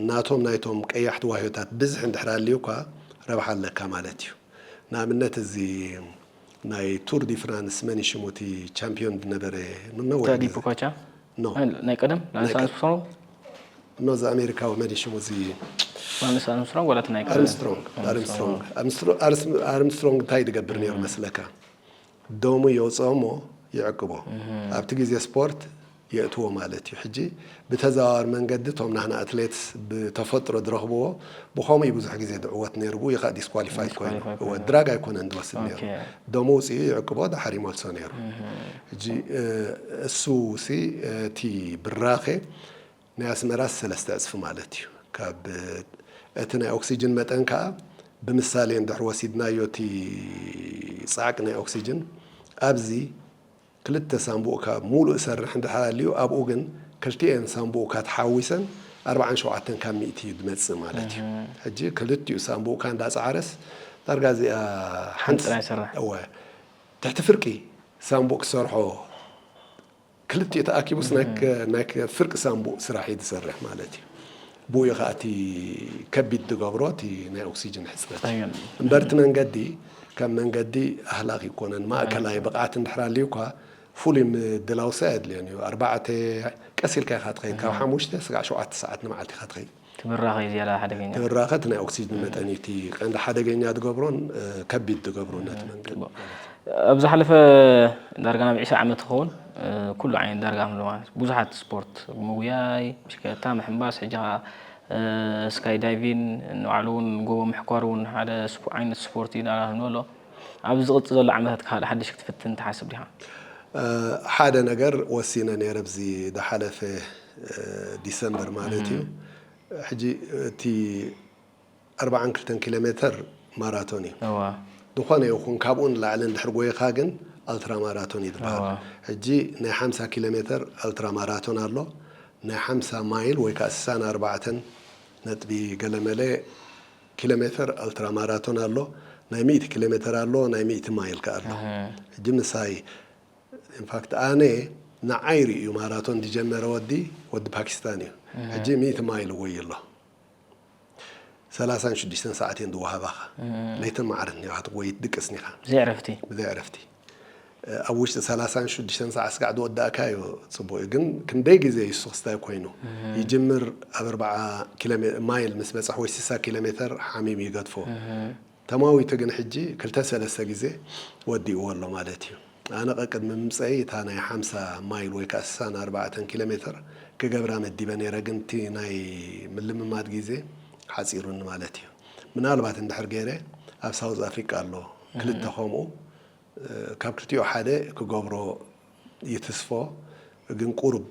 ናቶም ናይቶም ቀያሕቲ ዋህዮታት ብዝሒ እንድሕር ኣልዩካ ረብሓ ኣለካ ማለት እዩ። ንኣብነት እዚ ናይ ቱር ዲ ፍራንስ መን እዩ ሽሙ እቲ ቻምፕዮን ዝነበረ ንነዊሕ ታዲ ግዜ ፖካቻ ኖ ኣይ፣ ናይ ቀደም ናይ ላንስ ቀ- ኣርምስትሮንግ ኖ እዚ ኣሜሪካዊ መን እዩ ሽሙ እዚ ላንስ ኣርምስትሮንግ ዋላ እቲ ናይ ቀደም ኣርምስትሮንግ ኣርምስትሮንግ ኣርምስትሮ- ኣርስ- ኣርምስትሮንግ እንታይ ዝገብር ነይሩ መስለካ ደሙ የውጽኦ እሞ ይዕቅቦ ኣብቲ ግዜ ስፖርት የእትዎ ማለት እዩ ሕጂ ብተዘዋዋሪ መንገዲ እቶም ናህና ኣትሌትስ ብተፈጥሮ ዝረኽብዎ ብኸምኡ እዩ ብዙሕ ግዜ ዝዕወት ነይሩ ብኡ ይኸኣ ዲስኳሊፋይ ኮይኑ እወ ድራግ ኣይኮነን ዝወስድ ነይሩ ደሙ ውጽኡ ይዕቅቦ ድሓር ይመልሶ ነይሩ ሕጂ እሱ ሲ እቲ ብራኸ ናይ ኣስመራስ ሰለስተ ዕጽፊ ማለት እዩ። ካብ እቲ ናይ ኦክስጅን መጠን ከኣ ብምሳሌ እንድሕር ወሲድናዮ እቲ ጻዕቂ ናይ ኦክስጅን ኣብዚ ክልተ ሳንቡእካ ሙሉእ ሰርሕ እንድሕር ኣልዩ ኣብኡ ግን ክልቲኤን ሳንቡእካ ተሓዋዊሰን ኣርብዓን ሸውዓተን ካብ ሚእቲ እዩ ድመጽእ ማለት እዩ። ሕጂ ክልቲኡ ሳንቡእካ እንዳጸዓረስ ዳርጋ እዚኣ ሓንቲ ጥራይ ይሰርሕ። እወ ትሕቲ ፍርቂ ሳንቡእ ክሰርሖ ክልቲኡ ተኣኪቡስ ናይ ፍርቂ ሳንቡእ ስራሕ እዩ ዝሰርሕ ማለት እዩ። ብኡ እዩ ከኣ እቲ ከቢድ ዝገብሮ እቲ ናይ ኦክሲጅን ሕጽረት እዩ። እምበር እቲ መንገዲ ከም መንገዲ ኣህላኽ እይኮነን። ማእከላይ ብቕዓት እንድሕር ኣልዩኳ ፍሉይ ምድላውሰ ኣየድልዮን እዩ። ኣርባዕተ ቀስ ኢልካ ኢኻ ትኸይድ፣ ካብ ሓሙሽተ ስጋዕ ሸውዓተ ሰዓት ንመዓልቲ ኢኻ ትኸይድ። እቲ ብራኸ እዩ ዝያዳ ሓደገኛ። እቲ ብራኸ እቲ ናይ ኦክስጅን መጠን እዩ እቲ ቀንዲ ሓደገኛ ዝገብሮን ከቢድ ዝገብሮን ነቲ መንገዲ። ኣብ ዝሓለፈ ዳርጋ ናብ ዒስራ ዓመት ዝኸውን ኩሉ ዓይነት ዳርጋ ምሉ ማለት ብዙሓት ስፖርት ምጉያይ፣ ብሽክለታ ምሕንባስ፣ ሕጂ ከኣ ስካይ ዳይቪን ንባዕሉ እውን ጎቦ ምሕኳር እውን ሓደ ዓይነት ስፖርት እዩ እናበልና ክንብሎ ኣብዚ ዝቕጽል ዘሎ ዓመታት ካልእ ሓድሽ ክትፍትን ትሓስብ ዲኻ? ሓደ ነገር ወሲነ ነይረ ኣብዚ ዝሓለፈ ዲሰምበር ማለት እዩ። ሕጂ እቲ ኣርብዓን ክልተን ኪሎሜተር ማራቶን እዩ። ዝኾነ ይኹን ካብኡ ንላዕሊ እንድሕር ጎይኻ ግን ኣልትራ ማራቶን እዩ ዝበሃል። ሕጂ ናይ ሓምሳ ኪሎሜተር ኣልትራ ማራቶን ኣሎ። ናይ ሓምሳ ማይል ወይ ከኣ ስሳን ኣርባዕተን ነጥቢ ገለመለ፣ ኪሎሜተር ኣልትራ ማራቶን ኣሎ ናይ ሚእቲ ኪሎሜተር ኣሎ ናይ ሚእቲ ማይል ከኣ ኣሎ ሕጂ ምሳይ ኢንፋክት ኣነ ንዓይ ርእዩ ማራቶን ዝጀመረ ወዲ ወዲ ፓኪስታን እዩ ሕጂ ሚእቲ ማይል ይጎዪ ኣሎ ሰላሳን ሽዱሽተን ሰዓት እየን ዝወሃባኻ ለይትን መዓልትን ኢኻ ትጎዪ ትድቅስን ኢኻ ብዘይ ዕረፍቲ። ኣብ ውሽጢ ሰላሳን ሽዱሽተን ሰዓት ስጋዕ ዝወዳእካዮ ጽቡቅ እዩ ግን ክንደይ ግዜ እዩ እሱ ክስታይ ኮይኑ ይጅምር ኣብ ኣርብዓ ማይል ምስ በጽሕ ወይ ስሳ ኪሎሜተር ሓሚም ይገድፎ ተማዊቱ ግን ሕጂ ክልተ ሰለስተ ግዜ ወዲእዎ ኣሎ ማለት እዩ ኣነ ቀቅድሚ ምምጸይ እታ ናይ ሓምሳ ማይል ወይ ከኣ ስሳን ኣርባዕተን ኪሎሜተር ክገብራ መዲበ ነይረ ግን እቲ ናይ ምልምማድ ግዜ ሓጺሩኒ ማለት እዩ ምናልባት እንድሕር ገይረ ኣብ ሳውዝ ኣፍሪቃ ኣሎ ክልተ ከምኡ ካብ ክልቲኡ ሓደ ክገብሮ ይትስፎ ግን ቁሩብ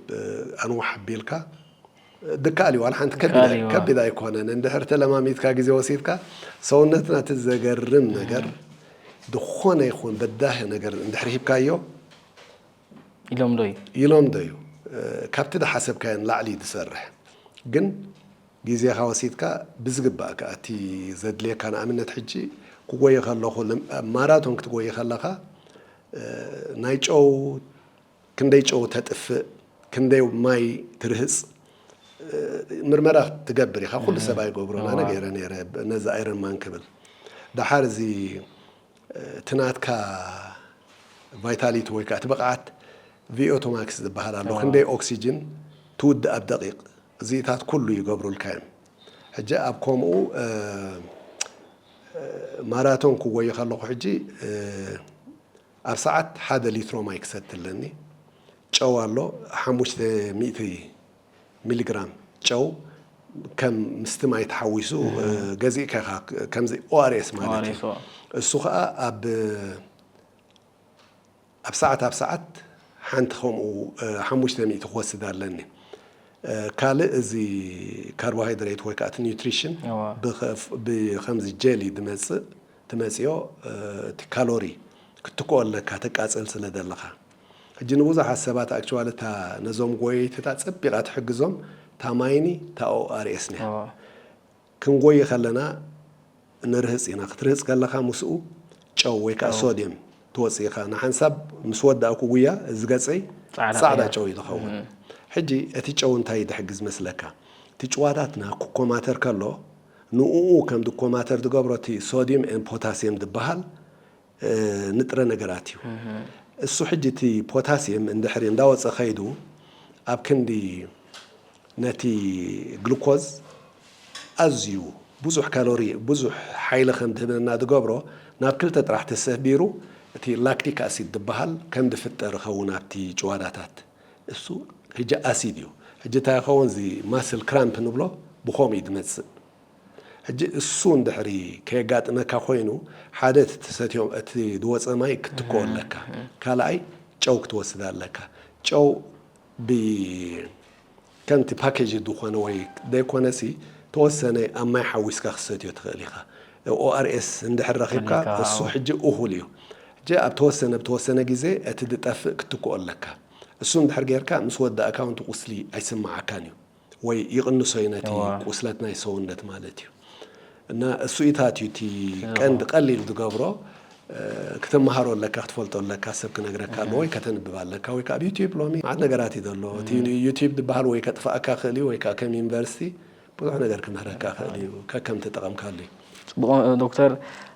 ኣንውሕ ኣቢልካ ድካኣል እዩ ዋላ ሓንቲ ከቢድ ከቢድ ኣይኮነን እንድሕር ተለማሚድካ ግዜ ወሲድካ ሰውነትና እቲ ዘገርም ነገር ዝኾነ ይኹን በዳሂ ነገር እንድሕር ሂብካዮ ይለምዶ እዩ ይለምዶ እዩ ካብቲ ዝሓሰብካዮ ንላዕሊ እዩ ዝሰርሕ ግን ግዜኻ ወሲድካ ብዝግባእ ከኣ እቲ ዘድልየካ ንኣብነት ሕጂ ክጎዪ ከለኹ ማራቶን ክትጎዪ ከለኻ ናይ ጨው ክንደይ ጨው ተጥፍእ ክንደይ ማይ ትርህጽ ምርመራ ትገብር ኢኻ ኩሉ ሰብ ኣይገብሮን ኣነ ገይረ ነይረ ነዚ ኣይረን ማን ክብል ደሓር እዚ እቲ ናትካ ቫይታሊቲ ወይ ከኣ እቲ ብቕዓት ቪኦቶማክስ ዝበሃል ኣሎ ክንደይ ኦክስጅን ትውድእ ኣብ ደቒቕ እዚኢታት ኩሉ ይገብሩልካ እዮም ሕጂ ኣብ ኮሙኡ ማራቶን ክጎዪ ከለኩ ሕጂ ኣብ ሰዓት ሓደ ሊትሮ ማይ ክሰቲ ኣለኒ ጨው ኣሎ ሓሙሽተ ሚእቲ ሚሊ ግራም ጨው ከም ምስቲ ማይ ተሓዊሱ ገዚእካ ኢኻ ከምዚ ኦኣርኤስ ማለት እዩ እሱ ከዓ ኣብ ኣብ ሰዓት ኣብ ሰዓት ሓንቲ ከምኡ ሓሙሽተ ሚእቲ ክወስድ ኣለኒ። ካልእ እዚ ካርቦሃይድሬት ወይ ከኣ እቲ ኒውትሪሽን ብከምዚ ጀሊ ዝመጽእ ትመጽዮ እቲ ካሎሪ ክትክኦ ኣለካ ተቃጽል ስለ ዘለኻ። ሕጂ ንብዙሓት ሰባት ኣክቹዋሊ እታ ነዞም ጎየይቲታት ጸቢቓ ትሕግዞም እታ ማይኒ እታ ORS እያ። ክንጎዪ ከለና ንርህጽ ኢና። ክትርህጽ ከለኻ ምስኡ ጨው ወይ ከኣ ሶድየም ትወጽእ ኢኻ። ንሓንሳብ ምስ ወዳእኩ ጉያ እዚ ገጸይ ጻዕዳ ጨው እዩ ዝኸውን። ሕጂ እቲ ጨው እንታይ ዝሕግዝ መስለካ? እቲ ጭዋታትና ክኮማተር ከሎ ንኡኡ ከም ዝኮማተር ዝገብሮ እቲ ሶድየም ኤን ፖታስየም ዝበሃል ንጥረ ነገራት እዩ። እሱ ሕጂ እቲ ፖታሲየም እንድሕሪ እንዳወጸ ከይዱ ኣብ ክንዲ ነቲ ግሉኮዝ ኣዝዩ ብዙሕ ካሎሪ ብዙሕ ሓይሊ ከም ድህበና ድገብሮ ናብ ክልተ ጥራሕ ተሰቢሩ እቲ ላክቲክ ኣሲድ ድበሃል ከም ድፍጠር ይኸውን ኣብቲ ጭዋዳታት እሱ ሕጂ ኣሲድ እዩ ሕጂ እንታይ ይኸውን እዚ ማስል ክራምፕ ንብሎ ብኸምኡ እዩ ድመጽእ። ሕጂ እሱ እንድሕሪ ከየጋጥመካ ኮይኑ ሓደ እቲ ትሰትዮ እቲ ዝወጸ ማይ ክትትክኦ ኣለካ ካልኣይ ጨው ክትወስድ ኣለካ ጨው ብ ከምቲ ፓኬጅ ዝኾነ ወይ ዘይኮነሲ ተወሰነ ኣብ ማይ ሓዊስካ ክትሰትዮ ትኽእል ኢኻ ORS እንድሕሪ ረኺብካ እሱ ሕጂ እኹል እዩ ሕጂ ኣብ ተወሰነ ብተወሰነ ግዜ እቲ ዝጠፍእ ክትትክኦ ኣለካ እሱ እንድሕሪ ጌርካ ምስ ወዳእካ ውን እቲ ቁስሊ ኣይስምዓካን እዩ። ወይ ይቕንሶ እዩ ነቲ እወ ቁስለት ናይ ሰውነት ማለት እዩ። እና እሱኢታት እዩ እቲ እኹ ቀንዲ ቀሊል ዝገብሮ ክትመሃሮ ኣለካ ክትፈልጦ ኣለካ ሰብ ክነግረካ ኣለዎ እህ ወይ ከተንብብ ኣለካ ወይ ከኣ ኣብ ዩቲብ ሎሚ መዓት ነገራት እዩ ዘሎ እቲ እህ ዩቲብ ዝበሃል ወይ ከጥፍኣካ ይኽእል እዩ ወይ ከኣ ከም ዩኒቨርሲቲ ብዙሕ ነገር ክምህረካ ይኽእል እዩ ከከም ተጠቐምካሉ እዩ። ጽቡቕ ዶክተር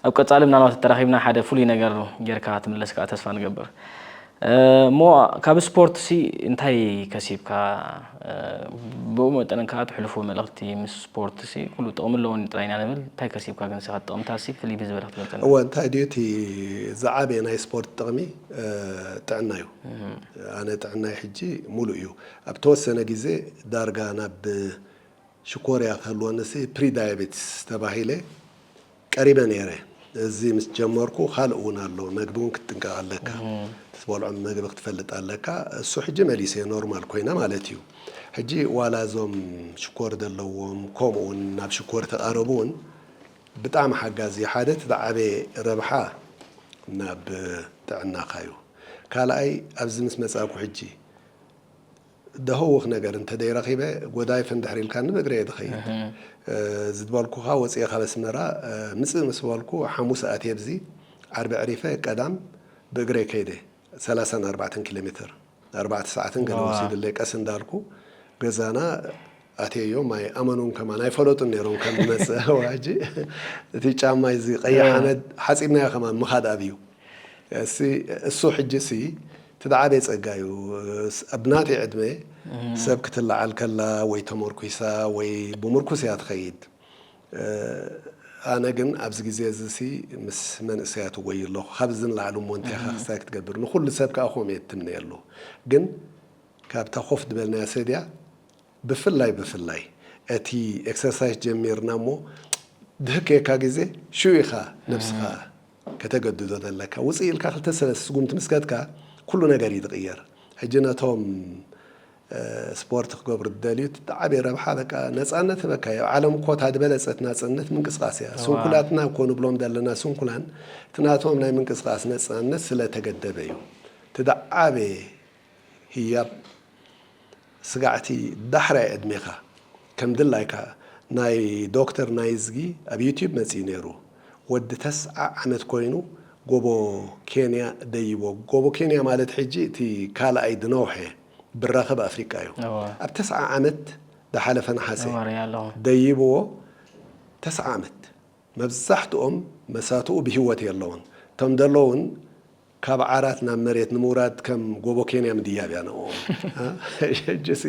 ኣብ ቀጻሊ ምናልባት ተራኺብና ሓደ ፍሉይ ነገር ጌርካ ክትምለስ ከኣ ተስፋ ንገብር። እሞ ካብ ስፖርትሲ እንታይ ከሲብካ? ብኡ መጠን ከኣ ትሕልፎ መልእኽቲ ምስ ስፖርትሲ ኩሉ ጥቕሚ ኣለዎኒ ጥራይ ኢና ንብል፣ እንታይ ከሲብካ ግን እስኻ ጥቕምታትሲ ፍልይ ብዝበለ ክትገልጸልና? እወ እንታይ ድዩ እቲ ዝዓበየ ናይ ስፖርት ጥቕሚ ጥዕና እዩ። ኣነ ጥዕናይ ሕጂ ምሉእ እዩ። ኣብ ተወሰነ ግዜ ዳርጋ ናብ ሽኮርያ ክህልወኒሲ ፕሪዳያቤቲስ ተባሂለ ቀሪበ ነይረ። እዚ ምስ ጀመርኩ ካልእ እውን ኣሎ፣ መግቢ እውን ክትጥንቀቕ ኣለካ፣ እቲ ትበልዖም መግቢ ክትፈልጥ ኣለካ። እሱ ሕጂ መሊሰዮ ኖርማል ኮይነ ማለት እዩ። ሕጂ ዋላ እዞም ሽኮር ዘለዎም ከምኡ እውን ናብ ሽኮር እተቓረቡ እውን ብጣዕሚ ሓጋዚ እዩ። ሓደ እቲ ዝዓበየ ረብሓ ናብ ጥዕናኻ እዩ። ካልኣይ ኣብዚ ምስ መጻእኩ ሕጂ ደህውኽ ነገር እንተደይረኺበ ጎዳይፍ እንድሕር ኢልካኒ ብእግረይ እየ ዝኸይድ ዝድበልኩኻ ወፂኤ ካብ ኣስመራ ምፅእ ምስ በልኩ ሓሙስ ኣትየ ኣብዚ ዓርቢ ኣዕሪፈ ቀዳም ብእግረይ ከይደ ሰላሳን ኣርባዕተን ኪሎሜትር ኣርባዕተ ሰዓትን ገለ ወሲዱለይ ቀስ እንዳልኩ ገዛና ኣትየዮም ኣይኣመኑን ከማን ኣይፈለጡን ነይሮም ከም ዝመጽእ ሕጂ እቲ ጫማ እዚ ቀይሕ ሓመድ ሓጺብናዮ ከማን ምኻድ ኣብዩ እሲ እሱ ሕጂ ሲ እቲ ዝዓበየ ጸጋ እዩ ኣብ ናተይ ዕድመ ሰብ ክትለዓል ከላ ወይ ተመርኲሳ ወይ ብምርኩስ እያ ትኸይድ ኣነ ግን ኣብዚ ግዜ እዚ ሲ ምስ መንእሰያት እወይ ኣለኹ ካብ እዚ ንላዕሊ እሞ እንታይ ኢኻ ክስታይ ክትገብር ንኹሉ ሰብ ከኣ ከምኡ እየ ትምነየሉ ግን ካብታ ኮፍ ዝበልናያ ሰድያ ብፍላይ ብፍላይ እቲ ኤክሰርሳይስ ጀሚርና እሞ ድህክ ክየካ ግዜ ሽዑ ኢኻ ነብስኻ ከተገድዶ ዘለካ ውጽእ ኢልካ ክልተ ሰለስተ ስጉምቲ ምስ ከድካ ኩሉ ነገር እዩ ዝቕየር ሕጂ ነቶም ስፖርት ክገብሩ ዝደልዩ እቲ ዓብዪ ረብሓ በቃ ነጻነት ህበካ እዩ ኣብ ዓለም እኮ እታ ዝበለጸት ናጽነት ምንቅስቓስ እያ ስንኩላትና እኮ ንብሎም ዘለና ስንኩላን እቲ ናቶም ናይ ምንቅስቓስ ነጻነት ስለ ተገደበ እዩ እቲ ዝዓበየ ህያብ ስጋዕቲ ዳሕራይ ዕድሜኻ ከም ድላይካ ናይ ዶክተር ናይዝጊ ኣብ ዩቲብ መጺኡ ነይሩ ወዲ ተስዓ ዓመት ኮይኑ ጎቦ ኬንያ ደይቦ ጎቦ ኬንያ ማለት ሕጂ እቲ ካልኣይ ድነውሐ ብራኸ ብ ኣፍሪቃ እዩ ኣብ ተስዓ ዓመት ድሓለፈ ነሓሰ ደይብዎ ተስዓ ዓመት መብዛሕትኦም መሳቱኡ ብሂወት የለውን እቶም ደለውን ካብ ዓራት ናብ መሬት ንምውራድ ከም ጎቦ ኬንያ ምድያብ እያ ንዕኦም። ሕጂሲ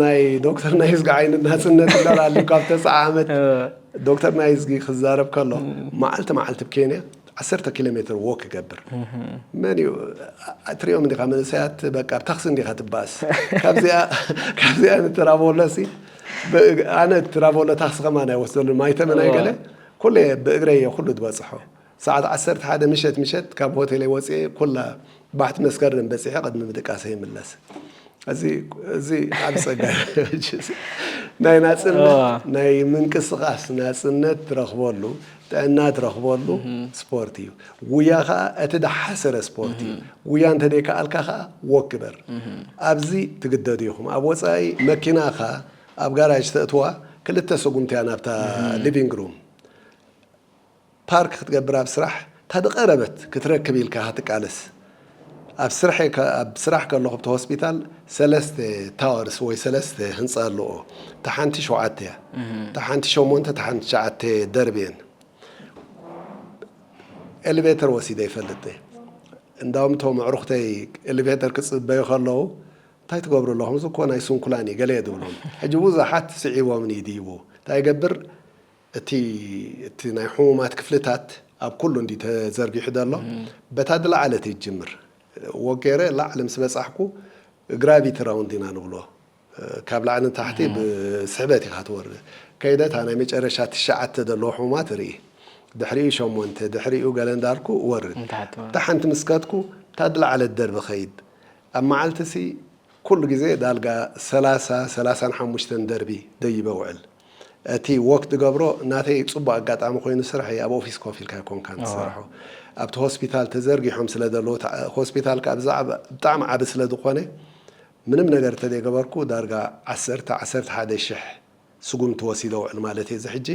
ናይ ዶክተር ናይዝጊ ዓይነት ናጽነት እምበር ኣልዩ ካብ ተስዓ ዓመት ዶክተር ናይዝጊ ክዛረብ ከሎ መዓልቲ መዓልቲ ብ ኬንያ ዓሰርተ ኪሎ ሜትር ዎክ ይገብር መን እዩ ትሪኦም እንዲኻ መንእሰያት በቃ ብ ታክሲ እንዲኻ ትባኣስ ካብዚኣ ካብዚኣ ንትራቮለሲ ኣነ ትራቮለ ታክሲ ከማን ኣይወስደሉን ማይተመን ኣይገለ ኩሉ እየ ብእግረይ እየ ኩሉ ዝበጽሖ። ሰዓት ዓሰርተ ሓደ ምሸት ምሸት ካብ ሆቴለይ ወጺኤ ኩላ ባሕቲ መስከረም በጺሐ ቅድሚ ምድቃሰይ ይምለስ። እዚ እዚ ዓቢ ጸጋ ናይ ናጽነት ናይ ምንቅስቃስ ናጽነት ትረክበሉ ጥዕና ትረክበሉ ስፖርት እዩ። ጉያ ከኣ እቲ ደሓሰረ ስፖርት እዩ። ጉያ እንተደይ ከኣልካ ከኣ ዎክ ግበር። ኣብዚ ትግደዱ ኢኩም ኣብ ወጻኢ መኪናካ ኣብ ጋራጅ ተእትዋ ክልተ ሰጉምቲ እያ ናብታ ሊቪንግ ሩም። ፓርክ ክትገብር ኣብ ስራሕ እታ ድቀረበት ክትረክብ ኢልካ ክትቃለስ ኣብ ስርሐ ኣብ ስራሕ ከለኹ ብቲ ሆስፒታል ሰለስተ ታወርስ ወይ ሰለስተ ህንጻ ኣለኦ እታ ሓንቲ ሸውዓተ እያ እታ ሓንቲ ሸሞንተ እታ ሓንቲ ትሽዓተ ደርቢ እየን ኤሌቬተር ወሲደ ይፈልጥ እንዳውም እቶም ኣዕሩኽተይ ኤሌቬተር ክፅበዩ ከለዉ እንታይ ትገብሩ ኣለኹም እዚ እኮ ናይ ስንኩላን እዩ ገለ እየ ዝብሎም ሕጂ ብዙሓት ስዒቦምኒ ድይቡ እንታይ ገብር እቲ እቲ ናይ ሕሙማት ክፍልታት ኣብ ኩሉ እንድዩ ተዘርጊሑ ዘሎ። በታ ዝለዓለት እየ ዝጅምር። ወጌረ ላዕሊ ምስ በጻሕኩ ግራቪቲ ራውንድ ኢና ንብሎ። ካብ ላዕሊ ንታሕቲ ብስሕበት ኢኻ ትወርድ። ከይደ እታ ናይ መጨረሻ ትሽዓተ ዘለዎ ሕሙማት እርኢ። ድሕሪኡ ሸሞንተ ድሕሪኡ ገለ እንዳልኩ እወርድ። እታ ሓንቲ ምስ ከድኩ እታ ዝለዓለት ደርቢ እኸይድ። ኣብ መዓልቲሲ ኩሉ ግዜ ዳርጋ ሰላሳ ሰላሳን ሓሙሽተን ደርቢ ደይበ እውዕል። እቲ ዎክ ትገብሮ ናተይ ጽቡቅ ኣጋጣሚ ኮይኑ ስራሕ እዪ ኣብ ኦፊስ ኮፍ ኢልካ ኣይኮንካን ትሰርሖ ኣብቲ ሆስፒታል ተዘርጊሖም ስለ ዘለዉ እቲ ሆስፒታል ከኣ ብዛዕባ ብጣዕሚ ዓቢ ስለ ዝኾነ ምንም ነገር እንተዘይ ገበርኩ ዳርጋ ዓሰርተ ዓሰርተ ሓደ ሽሕ ስጉምቲ ወሲደ ውዕል ማለት እዪ እዚ ሕጂ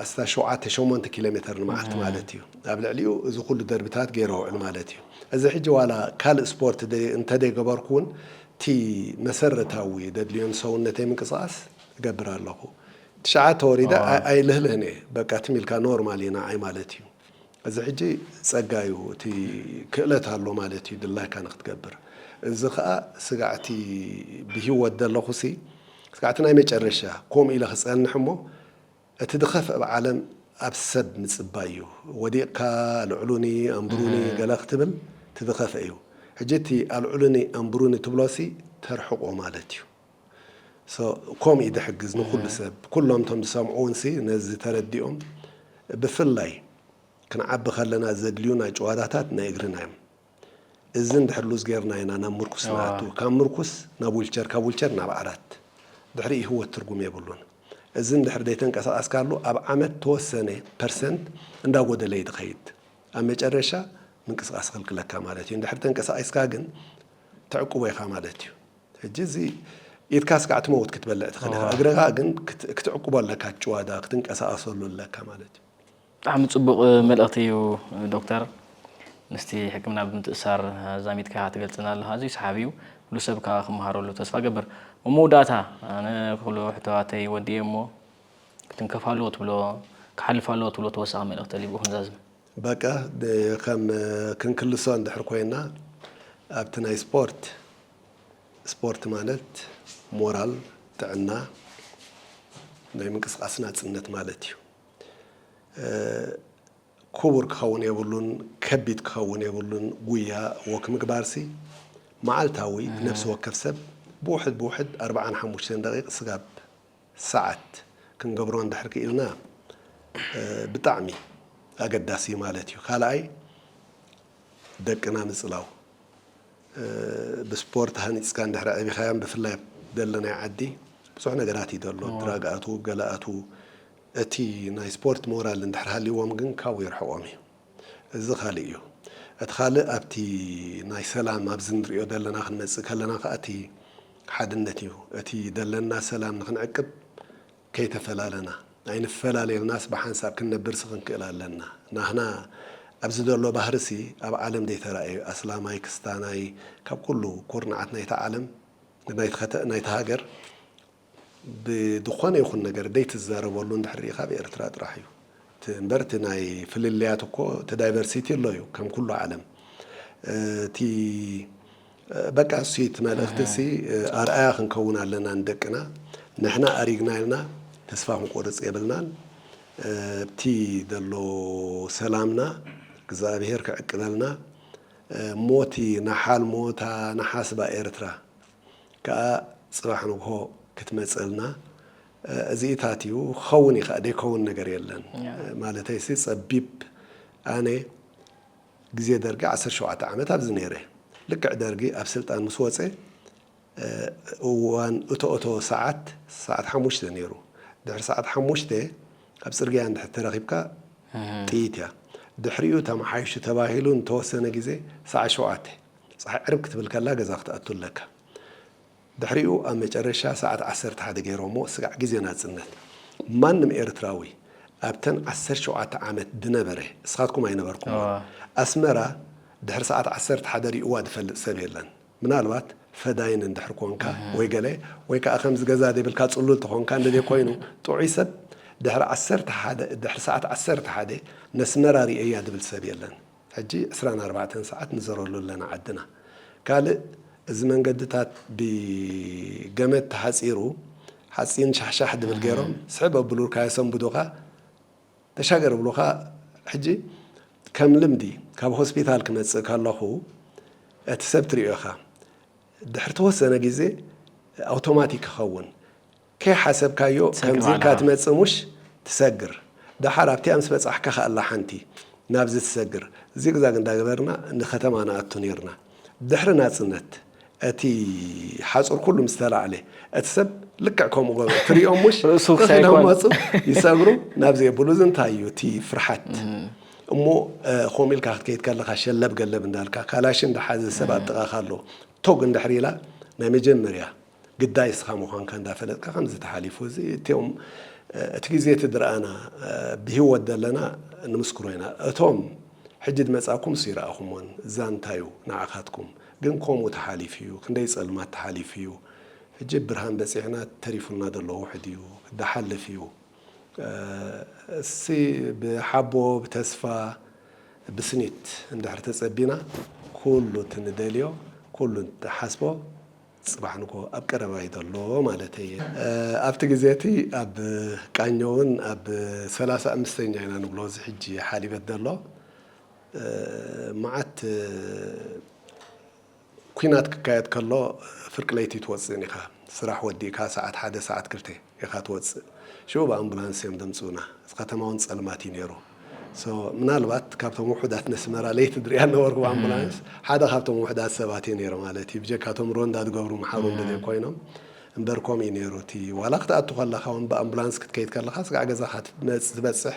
ኣስታት ሸውዓተ ሸሞንተ ኪሎ ሜተር ንመዓልቲ ማለት እዩ ኣብ ልዕሊኡ እዚ ኩሉ ደርብታት ገይረ ውዕል ማለት እዩ እዚ ሕጂ ዋላ ካልእ ስፖርት እንተዘይ ገበርኩ ውን እቲ መሰረታዊ ደድልዮን ሰውነተይ ምንቅስቓስ እገብር ኣለኹ። ትሽዓተ ወሪደ ኣይልህልህን እየ፣ በቃ ትም ኢልካ ኖርማል እዩ ንዓይ ማለት እዩ። እዚ ሕጂ ጸጋ እዩ፣ እቲ ክእለት ኣሎ ማለት እዩ ድላይካ ንኽትገብር። እዚ ከኣ ስጋዕቲ ብሂወት ዘለኹሲ ስጋዕቲ ናይ መጨረሻ ኮምኡ ኢለ ክጸንሕ እሞ፣ እቲ ድኸፍ እብ ዓለም ኣብ ሰብ ምጽባይ እዩ ወዲቅካ ኣልዑሉኒ ኣንብሩኒ ገለ ክትብል እቲ ድኸፍ እዩ ሕጂ እቲ ኣልዑሉኒ ኣንብሩኒ ትብሎ ሲ ተርሕቆ ማለት እዩ so ኮም እዩ ድሕግዝ ንኩሉ ሰብ ኩሎም እቶም ዝሰምዑ ውን ሲ ነዚ ተረዲኦም ብፍላይ ክንዓቢ ከለና ዘድልዩና ጭዋዳታት ናይ እግርና እዮም እዚ እንድሕር ሉዝ ጌርና ኢና ናብ ምርኩስ ንኣቱ፣ ካብ ምርኩስ ናብ ዊልቸር፣ ካብ ዊልቸር ናብ ዓራት፣ ድሕሪኡ ህይወት ትርጉም የብሉን። እዚ እንድሕር ዘይተንቀሳቐስካሉ ኣብ ዓመት ተወሰነ ፐርሰንት እንዳጎደለ እዩ ዝኸይድ። ኣብ መጨረሻ ምንቅስቓስ ይኽልክለካ ማለት እዩ። እንድሕር ተንቀሳቒስካ ግን ተዕቅቦ ኢኻ ማለት እዩ። ሕጂ እዚ ኢድካ ስጋዕ ትመውት ክትበልዕ ትኽእል ኢኻ፣ እግርኻ ግን ክትዕቅቦ ኣለካ፣ እቲ ጭዋዳ ክትንቀሳቐሰሉ ኣለካ ማለት እዩ። ብጣዕሚ ጽቡቕ መልእኽቲ እዩ ዶክተር ምስቲ ሕክምና ብምትእስሳር ኣዛሚድካ ትገልጽና ኣለኻ ኣዝዩ ሰሓቢ እዩ ኩሉ ሰብ ከዓ ክመሃረሉ ተስፋ ገብር ኣብ መወዳእታ ኣነ ኩሉ ሕቶዋተይ ወዲኤ እሞ ክትንከፍ ኣለዎ ትብሎ ክሓልፍ ኣለዎ ትብሎ ተወሳኺ መልእኽቲ ተልዩ ብኡ ክንዛዝም በቃ ከም ክንክልሶ እንድሕር ኮይና ኣብቲ ናይ ስፖርት ስፖርት ማለት ሞራል ጥዕና ናይ ምንቅስቓስ ናጽነት ማለት እዩ። ኩቡር ክኸውን የብሉን ከቢድ ክኸውን የብሉን ጉያ ዎክ ምግባርሲ መዓልታዊ ነብሲ ወከፍ ሰብ ብውሕድ ብውሕድ ኣርብዓን ሓሙሽተን ደቂቅ ስጋብ ሰዓት ክንገብሮ እንድሕር ክኢልና ብጣዕሚ ኣገዳሲ እዩ ማለት እዩ ካልኣይ ደቅና ምጽላው ብስፖርት ሃኒጽካ እንድሕር ኣዕቢኻዮም ብፍላይ ኣብ ደለናዮ ዓዲ ብዙሕ ነገራት እዩ ደሎ ድራግ ኣትው ገለ ኣትው እቲ ናይ ስፖርት ሞራል እንድሕር ሃልይዎም ግን ካብኡ የርሕቆም እዩ እዚ ካልእ እዩ እቲ ካልእ ኣብቲ ናይ ሰላም ኣብዚ ንርእዮ ዘለና ክንመጽእ ከለና ከኣ እቲ ሓድነት እዩ እቲ ደለና ሰላም ንክንዕቅብ ከይተፈላለና ኣይንፈላለ ኢልናስ ብሓንሳብ ክንነብርሲ ክንክእል ኣለና ናህና ኣብዚ ዘሎ ባህርሲ ኣብ ዓለም ዘይተራእየ ኣስላማይ ክስታናይ ካብ ኩሉ ኩርናዓት ናይታ ዓለም ናይቲ ናይቲ ሃገር ብድኾነ ይኹን ነገር ደይ ትዛረበሉ እንድሕር ሪኢኻ ኣብ ኤርትራ ጥራሕ እዩ እቲ እምበር እቲ ናይ ፍልልያት እኮ እቲ ዳይቨርሲቲ ኣሎ እዩ ከም ኩሉ ዓለም እቲ በቃ እሱ እቲ መልእኽቲ እሲ ኣርኣያ ክንከውን ኣለና ንደቅና ንሕና ኣሪግና ኢልና ተስፋ ክንቆርጽ የብልናን ኣብቲ ዘሎ ሰላምና እግዝኣብሄር ክዕቅበልና እሞ እቲ ንሓልሞ እታ ንሓስባ ኤርትራ ከኣ ጽባሕ ንግሆ ክትመጸልና እዚኢታት እዩ ክኸውን ይኸእ ደይከውን ነገር የለን ማለተይ ሲ ጸቢብ ኣነ ግዜ ደርጊ ዓሰርተ ሸውዓተ ዓመት ኣብዚ ነይረ ልክዕ ደርጊ ኣብ ስልጣን ምስ ወጸ እዋን እተኦተወ ሰዓት ሰዓት ሓሙሽተ ነይሩ ድሕሪ ሰዓት ሓሙሽተ ኣብ ጽርግያ እንድሕር ተረኺብካ ጥይት እያ ድሕሪኡ ተመሓይሹ ተባሂሉ ንተወሰነ ግዜ ሰዓት ሸውዓተ ጸሓይ ዕርብ ክትብል ከላ ገዛ ክትኣቱ ኣለካ። ድሕሪኡ ኣብ መጨረሻ ሰዓት ዓሰርተ ሓደ ገይሮሞ ስጋዕ ግዜ ናጽነት። ማንም ኤርትራዊ ኣብተን ዓሰርተ ሸውዓተ ዓመት ድነበረ እስኻትኩም ኣይነበርኩሞን። ኣስመራ ድሕሪ ሰዓት ዓሰርተ ሓደ ሪኡዋ ድፈልጥ ሰብ የለን። ምናልባት ፈዳይን እንድሕር ኮንካ ወይ ገለ ወይ ከኣ ከምዚ ገዛ ዘይብልካ ጽሉል ተኾንካ እንድልየ ኮይኑ ጥዑይ ሰብ ድሕሪ ዓሰርተ ሓደ ድሕሪ ሰዓት ዓሰርተ ሓደ ነስመራ ሪኤያ ድብል ሰብ የለን። ሕጂ ዕስራን ኣርባዕተን ሰዓት ንዘረሉ ኣለና ዓድና ካልእ እዚ መንገድታት ብ ገመድ ተሓጺሩ ሓጺን ሻሕሻሕ ድብል ጌሮም ስሕብ ኣብሉልካ የሰንብዱካ ተሻገር ይብሉካ ሕጂ ከም ልምዲ ካብ ሆስፒታል ክመጽእ ከለኩ እቲ ሰብ ትሪኦ ኢካ ድሕሪ ተወሰነ ግዜ ኣውቶማቲክ ይከውን ከይሓሰብካዮ ከምዚ ኢልካ ትመጽእ ሙሽ ትሰግር ደሓር ኣብቲኣ ምስ በጻሕካ ከኣ ኣላ ሓንቲ ናብዚ ትሰግር ዚግዛግ እንዳገበርና ንከተማ ንኣቱ ኔርና ድሕሪ ናጽነት እቲ ሓጹር ኩሉ ምስ ተላዕለ እቲ ሰብ ልክዕ ከምኡ ገበሩ ትሪኦም ሙሽ ርእሱ ትኽ ክሳይ ኢሎም ኮን ይመጹ ይሰግሩ ናብ ዘየብሉ እዚ እንታይ እዩ እቲ ፍርሓት እሞ ከምኡ ኢልካ ክትከይድ ከለካ ሸለብ ገለብ እንዳልካ ካላሽን ዝሓዘ ሰብ ኣብ ጥቃካ ኣሎ ቶግ እንድሕር ኢላ ናይ መጀመርያ ግዳይ እስኻ ምዃንካ እንዳፈለጥካ ከምዚ ተሓሊፉ እዚ እቲኦም እቲ ግዜ እቲ ድርኣና ብሂወት ደለና ንምስክሮ ኢና እቶም ሕጂ ድመጻኩምስ ይርኣኹሞን ዛንታ ዩ ንዓኻትኩም ግን ኮምኡ ተሓሊፉ ዩ ክንደይ ጸልማት ተሓሊፉ ዩ ሕጂ ብ ብርሃን በጺሕና ተሪፉና ደሎ ውሕድ ዩ ድሓልፍ ዩ እስይ ብ ሓቦ ብ ተስፋ ብ ስኒት እንድሕር ተጸቢና ኩሉ እቲ ንደልዮ ኩሉ እቲ ንሓስቦ ጽባሕ ንግሆ ኣብ ቀረባ'ዩ ዘሎ ማለተይ'የ። ኣብቲ ግዜ'ቲ ኣብ ቃኘውን ኣብ ሰላሳ ኣምስተኛ ኢና ንብሎ እዚ ሕጂ ሓሊበት ዘሎ መዓት ኲናት ክካየድ ከሎ ፍርቂ ለይቲ ትወጽእን ኢኻ ስራሕ ወዲእካ ሰዓት ሓደ ሰዓት ክልተ። ኢኻ ትወጽእ ሽዑ ብኣምቡላንስ እዮም ዘምጽኡና እቲ ከተማ ውን ጸልማት እዩ ኔሩ so ምናልባት ካብቶም ውሑዳት ነስመራ ለይቲ ድሪኣ ነበርኩ ብኣምቡላንስ ሓደ ካብቶም ውሑዳት ሰባት እየ ኔረ ማለት እዩ ብጀካ እቶም ሮንዳ ዝገብሩ ምሓሩ እንድዘይ ኮይኖም እምበር ከምኡ እዩ ኔሩ እቲ ዋላ ክትኣቱ ከለኻ ውን ብኣምቡላንስ ክትከይድ ከለኻ ስጋዕ ገዛኻ ትመጽ ትበጽሕ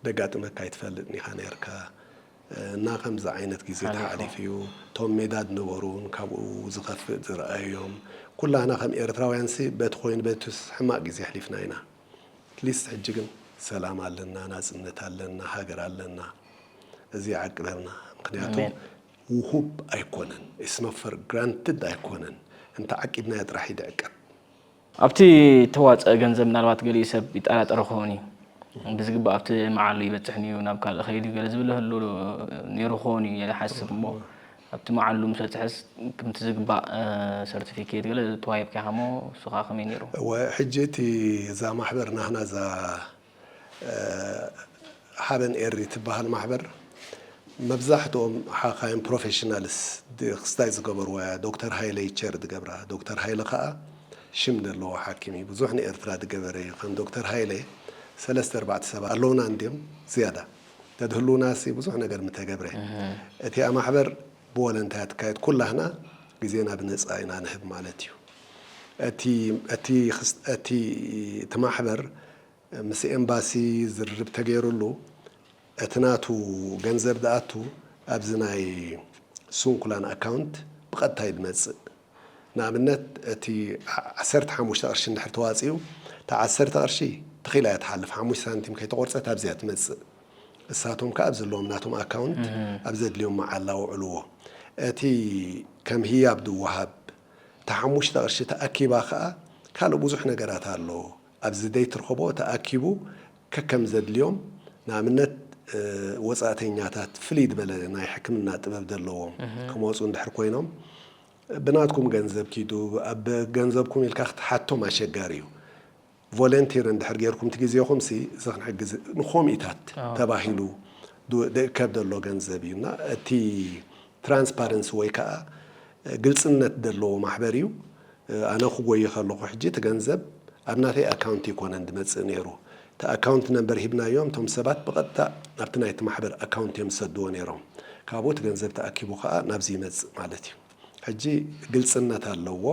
ደጋጥመካ ኣይትፈልጥን ኢኻ ኔርካ እና ከምዚ ዓይነት ግዜ ተሓሊፉ እዩ እቶም ሜዳ ድነበሩ ውን ካብኡ ዝከፍእ ዝረኣዩ እዮም ኩላህና ከም ኤርትራውያን ሲ በቲ ኮይኑ በትስ ሕማቅ ግዜ ኣሕሊፍና ኢና ኣትሊስት ሕጂ ግን ሰላም ኣለና ናጽነት ኣለና ሃገር ኣለና እዚ ይዓቅበልና ምክንያቱ ውሁብ ኣይኮነን ኢትስ ኖት ፈር ግራንትድ ኣይኮነን እንተ ዓቂብናዮ ጥራሕ እዩ ድዕቀብ። ኣብቲ እተዋጽኣ ገንዘብ ምናልባት ገሊኡ ሰብ ይጠራጠር ይኸውን እዩ። ብዝግባእ ኣብቲ መዓሉ ይበጽሕን እዩ፣ ናብ ካልእ ኸይድ እዩ ገለ ዝብል ይህሉ ነይሩ ክኸውን እዩ ኢለ እሓስብ እሞ ኣብቲ መዓሉ ምስ በጽሐስ ክምቲ ዝግባእ ሰርቲፊኬት ገለ ተዋሂብካ ኢኻ እሞ እሱ ኸኣ ከመይ ነይሩ? እወ ሕጂ እቲ እዛ ማሕበር ናህና እዛ ሓበን ኤሪ ትበሃል ማሕበር መብዛሕትኦም ሓካይም ፕሮፌሽናልስ ክስታይ ዝገበርዋ እያ ዶክተር ሃይለ እዩ ቸር ዝገብራ ዶክተር ሃይለ ከኣ ሽም ዘለዎ ሓኪም እዩ ብዙሕ ንኤርትራ ዝገበረ እዩ ከም ዶክተር ሃይለ ሰለስተ ኣርባዕተ ሰባት ኣለውና እንድዮም ዝያዳ ተድህልውናሲ ብዙሕ ነገር ምተገብረ እቲኣ ማሕበር ብወለንታ ትካየድ ኩላህና ግዜና ብነጻ ኢና ንህብ ማለት እዩ። እቲ እቲ እቲ እቲ ማሕበር ምስ ኤምባሲ ዝርርብ ተገይሩሉ እቲ ናቱ ገንዘብ ዝኣቱ ኣብዚ ናይ ስንኩላን ኣካውንት ብቐጥታ እዩ ዝመጽእ። ንኣብነት እቲ ዓሰርተ ሓሙሽተ ቅርሺ እንድሕር ተዋጺኡ እታ ዓሰርተ ቅርሺ ተኺላ እያ ትሓልፍ ሓሙሽተ ሳንቲም ከይተቖርጸት ኣብዚያ ትመጽእ። እሳቶም ከኣ ኣብ ዘለዎም ናቶም ኣካውንት ኣብ ዘድልዮም መዓላ ኣውዕልዎ። እቲ ከም ህያብ ዝወሃብ እታ ሓሙሽተ ቅርሺ ተኣኪባ ከኣ ካልእ ብዙሕ ነገራት ኣሎ። ኣብዚ ዘይትርኸቦ ተኣኪቡ ከከም ዘድልዮም ንኣብነት ወጻእተኛታት ፍልይ ዝበለ ናይ ሕክምና ጥበብ ዘለዎም ክመጹ እንድሕር ኮይኖም ብናትኩም ገንዘብ ኪዱ ኣብ ገንዘብኩም ኢልካ ክትሓቶም ኣሸጋሪ እዩ። ቮለንቲር እንድሕር ጌርኩም ትግዜኹም ሲ ዝክንሕግዝ ንኮሚኢታት ተባሂሉ ድእከብ ደሎ ገንዘብ እዩ እና እቲ ትራንስፓረንሲ ወይ ከኣ ግልጽነት ደለዎ ማሕበር እዩ ኣነ ክጎይ ከለኹ ሕጂ እቲ ገንዘብ ኣብ ናተይ ኣካውንት እይኮነን ድመጽእ ኔሩ እቲ ኣካውንት ነምበር ሂብናዮም እቶም ሰባት ብቀጥታ ናብቲ ናይቲ ማሕበር ኣካውንት እዮም ዝሰድዎ ኔሮም ካብኡ እቲ ገንዘብ ተኣኪቡ ከኣ ናብዚ ይመጽእ ማለት እዩ ሕጂ ግልጽነት ኣለዎ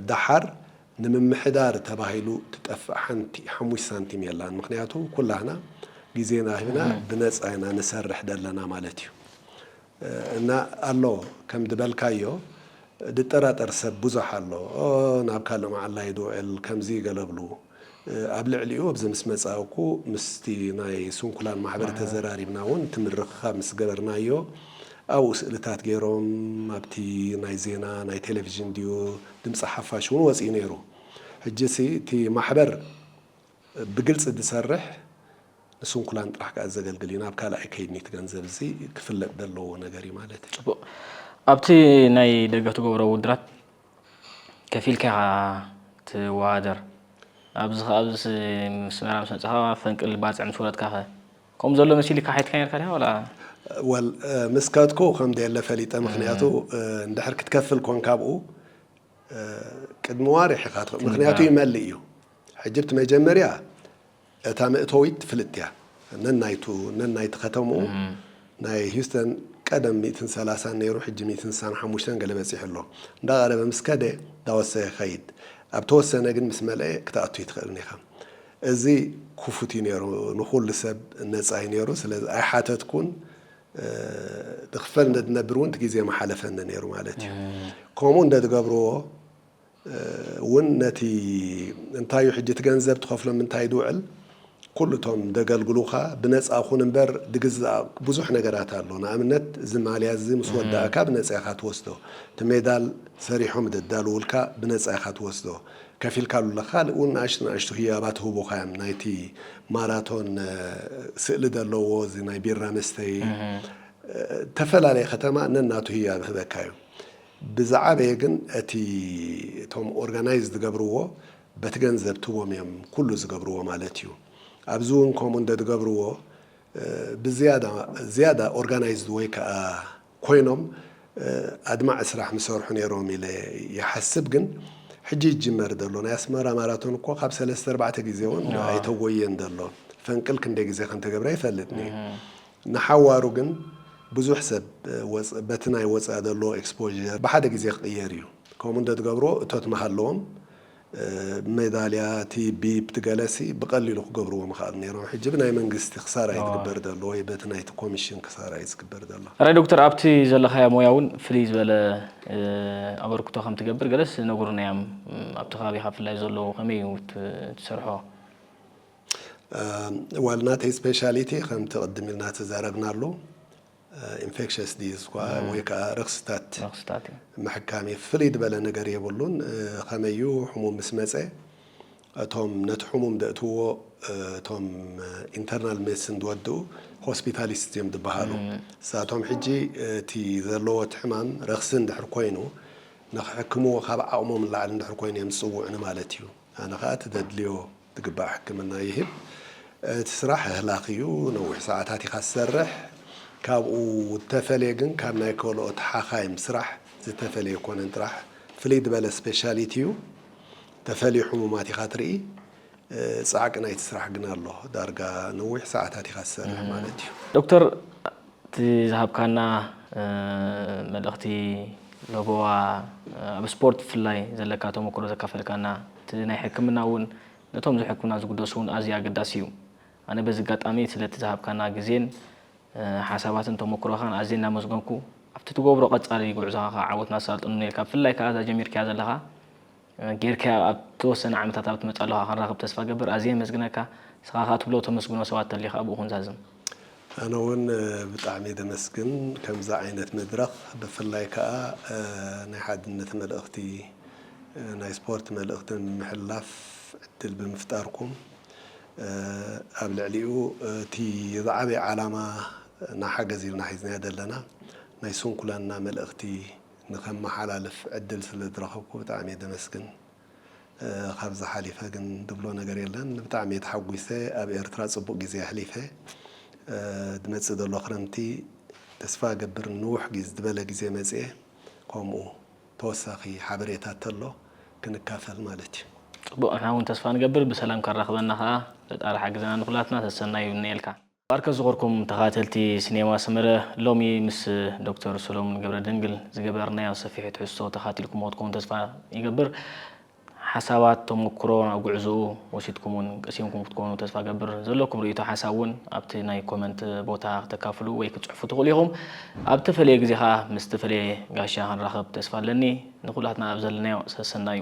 ደሓር ንምምሕዳር ተባሂሉ ትጠፍእ ሓንቲ ሓሙሽተ ሳንቲም የላን ምኽንያቱ ኩላህና ግዜና ሂብና ብነጻ ኢና ንሰርሕ ደለና ማለት እዩ እና ኣሎ ከም ድበልካዮ ድጠራጠር ሰብ ብዙሕ ኣሎ ናብ ካልእ መዓላ ይዶ እል ከምዚ ገለ ብሉ ኣብ ልዕሊኡ ኣብዚ ምስ መጻእኩ ምስቲ ናይ ስንኩላን ማሕበር ተዘራሪብና እውን እቲ ምርኽኻብ ምስ ገበርናዮ ኣብኡ ስእልታት ገይሮም ኣብቲ ናይ ዜና ናይ ቴሌቭዥን ድዩ ድምጺ ሓፋሽ እውን ወጺኡ ነይሩ። ሕጂሲ እቲ ማሕበር ብግልጺ ዝሰርሕ ንስንኩላን ጥራሕ ከኣ ዘገልግል እዩ። ናብ ካልኣይ ከይድኒ እቲ ገንዘብ እዚ ክፍለጥ ዘለዎ ነገር እዩ ማለት እዩ። ጽቡቕ ኣብቲ ናይ ደገፍ ትገብሮ ውድራት ከፊልካ ኢኻ ትወዳደር ኣብዚ ከ ኣብዚስ ምስ መራ ምስ መጻኻ ፈንቅል ባጽዕ ምስ ወረድካኸ? ከምኡ ዘሎ መሲሊካ ሓይትካ ኔርካ ዲካ ወላ። Well ምስ ከድኩ ከም ደየለ ፈሊጠ ምክንያቱ እንድሕር ክትከፍል ኮንካ ኣብኡ ቅድሚ ዋርሕ ኢካ ትከፍል ምክንያቱ ይመልእ እዩ ሕጂ ብቲ መጀመርያ እታ መእተዊት ፍልጥቲ እያ ነናይቱ ነናይቲ ከተምኡ ናይ Houston ቀደም ሚእትን ሰላሳን ነይሩ ሕጂ ሚእትን ስሳን ሓሙሽተን ገለ በጺሑ ኣሎ እንዳቀረበ ምስ ከደ እንዳወሰከ ይከይድ ኣብ ተወሰነ ግን ምስ መልኤ ክትኣቱ ኣይትክእልን ኢካ እዚ ኩፉት እዩ ነይሩ ንኹሉ ሰብ ነጻ እዩ ነይሩ ስለዚ ኣይሓተትኩን ድክፈል እንደድነብር እውን ትግዜ ምሓለፈኒ ነይሩ ማለት እዩ ከምኡ እንደትገብርዎ እውን ነቲ እንታይ እዩ ሕጂ ትገንዘብ ትኸፍሎ ምንታይ ድውዕል ኩሉ እቶም ደገልግሉኻ ብነጻ ኩን እምበር ድግዛእ ብዙሕ ነገራት ኣሎ ንኣብነት እዚ ማልያ እዚ ምስ ወዳእካ ብነጻ ኢኻ ትወስዶ እቲ ሜዳል ሰሪሖም ደዳልውልካ ብነጻ ኢኻ ትወስዶ ከፊልካሉ ኣለካ ካልእ ውን ንኣሽቱ ንኣሽቱ ህያባት ይህቡካ እዮም ናይቲ ማራቶን ስእሊ ደለዎ እዚ ናይ ቢራ መስተዪ ተፈላለየ ከተማ ነናቱ ህያብ ይህበካ እዩ ብዝዓበየ ግን እቲ እቶም ኦርጋናይዝ ዝገብርዎ በቲ ገንዘብ ትቦም እዮም ኩሉ ዝገብርዎ ማለት እዩ ኣብዚ ውን ከምኡ እንደ ዝገብርዎ ብዝያዳ ዝያዳ ኦርጋናይዝድ ወይ ከኣ ኮይኖም ኣድማዒ ስራሕ ምሰርሑ ነይሮም ኢለ ይሓስብ ግን ሕጂ ይጅመር ዘሎ ናይ ኣስመራ ማራቶን እኮ ካብ ሰለስተ ኣርባዕተ ግዜ እውን ኣይተጎየን ዘሎ ፈንቅል ክንደይ ግዜ ከምተገብረ ኣይፈልጥን እየ ንሓዋሩ ግን ብዙሕ ሰብ በቲ ናይ ወፃኢ ዘሎ ኤክስፖዠር ብሓደ ግዜ ክቕየር እዩ ከምኡ እንተትገብርዎ እቶት ምሃለዎም ሜዳልያ እቲ ቢፕ ትገለሲ ብቀሊሉ ክገብርዎ ምክኣል ነይሮም ሕጂ ብናይ መንግስቲ ክሳራ እዩ ዝግበር ዘሎ ወይ በቲ ናይቲ ኮምሽን ክሳራ እዩ ዝግበር ዘሎ። ራይ ዶክተር ኣብቲ ዘለካዮ ሞያ ውን ፍልይ ዝበለ ኣበርክቶ ከም ትገብር ገለስ ነጉሩና እዮም ኣብቲ ከባቢካ ብፍላይ ዘሎ ከመይ እዩ ትሰርሖ? ዋል ናተይ ስፔሻሊቲ ከምቲ ቅድም ኢልና ተዛረብናሉ ኢንፌክሸስ ዲዝ እኳ ወይ ከኣ ረኽስታት ረኽስታት እዩ። ምሕካም እዩ። ፍልይ ድበለ ነገር የብሉን። ኸመይ እዩ ሕሙም ምስ መጸ እቶም ነቲ ሕሙም ደእትውዎ እቶም ኢንተርናል ሜድስን ድወድኡ ሆስፒታሊስት እዮም ድበሃሉ። ንሳቶም ሕጂ እቲ ዘለዎ እቲ ሕማም ረኽሲ እንድሕር ኮይኑ ንኽሕክምዎ ካብ ዓቕሞም ንላዕሊ እንድሕር ኮይኑ እዮም ዝጽውዑ ንማለት እዩ። ኣነ ኸኣ እቲ ደድልዮ ዝግባእ ሕክምና ይህብ። እቲ ስራሕ ኣህላኺ እዩ፣ ነዊሕ ሰዓታት ኢኻ ትሰርሕ። ካብኡ ዝተፈልየ ግን ካብ ናይ ከልኦት ሓኻይም ስራሕ ዝተፈልየ ኣይኮነን ጥራሕ ፍልይ ዝበለ ስፔሻሊቲ እዩ። ዝተፈልዩ ሕሙማት ኢኻ ትርኢ። ጻዕቂ ናይቲ ስራሕ ግን ኣሎ፣ ዳርጋ ነዊሕ ሰዓታት ኢኻ ትሰርሕ ማለት እዩ። ዶክተር እቲ ዝሃብካና መልእኽቲ ለበዋ ኣብ ስፖርት ብፍላይ ዘለካ ተሞክሮ ዘካፈልካና፣ እቲ ናይ ሕክምና እውን ነቶም ዝሕኩና ዝግደሱ እውን ኣዝዩ ኣገዳሲ እዩ። ኣነ በዚ ኣጋጣሚ ስለቲ ዝሃብካና ግዜን ሓሳባትን ተሞክሮኻን ኣዝየ እናመስገንኩ ኣብቲ ትገብሮ ቀጻሊ ጉዕዞኻ ከኣ ዓወት ናሳልጦ ንምነየልካ ብፍላይ ከኣ እዛ ጀሚርካያ ዘለኻ ጌርካያ ኣብ ተወሰነ ዓመታት ኣብ ትመጽእ ኣለኻ ክንራኽብ ተስፋ ገብር ኣዝየ የመስግነካ ንስኻ ከኣ ትብሎ ተመስግኖ ሰባት ተልዩ ከኣ ብኡ ክንዛዝም ኣነ ውን ብጣዕሚ እየ ዘመስግን ከምዚ ዓይነት መድረኽ ብፍላይ ከኣ ናይ ሓድነት መልእኽቲ ናይ ስፖርት መልእኽቲ ንምምሕልላፍ ዕድል ብምፍጣርኩም ኣብ ልዕሊኡ እቲ ዝዓበየ ዓላማ እና ሓገዝ ኢልና ሒዝናዮ ዘለና ናይ ስንኩላንና መልእኽቲ ንኸመሓላልፍ ዕድል ስለ ዝረኸብኩ ብጣዕሚ እየ ዘመስግን። ካብዚ ሓሊፈ ግን ድብሎ ነገር የለን ብጣዕሚ እየ ተሓጒሰ ኣብ ኤርትራ ጽቡቅ ግዜ ኣሕሊፈ ድመጽእ ደሎ ክረምቲ ተስፋ እገብር ንንውሕ ዝበለ ግዜ መጽየ ኮምኡ ተወሳኪ ሓበሬታ እተሎ ክንካፈል ማለት እዩ። ጽቡቅ ንሕና ውን ተስፋ ንገብር ብሰላም ከራክበና ከኣ ፈጣሪ ሓግዘና ንኩላትና ሰሰናዩ ይምነየልካ። ባርከ ዝኮርኩም ተካታተልቲ ስኔማ ሰመረ ሎሚ ምስ ዶክተር ሰሎሙን ገብረደንግል ዝገበርናዮ ሰፊሕ ትሕዝቶ ተካታቲልኩምዎ ትኮኑ ተስፋ ይገብር ሓሳባት ተሞኩሮ ናብ ጉዕዙኡ ወሲድኩም ውን ቀሲምኩም ክትኮኑ ተስፋ ገብር ዘለኩም ርእይቶ ሓሳብ ውን ኣብቲ ናይ ኮመንት ቦታ ክተካፍሉ ወይ ክትጽሕፉ ትክእሉ ኢኩም ኣብ ተፈለየ ግዜ ከኣ ምስ ተፈለየ ጋሻ ክንራከብ ተስፋ ኣለኒ ንኩላትና ኣብ ዘለናዮ ሰሰናዩ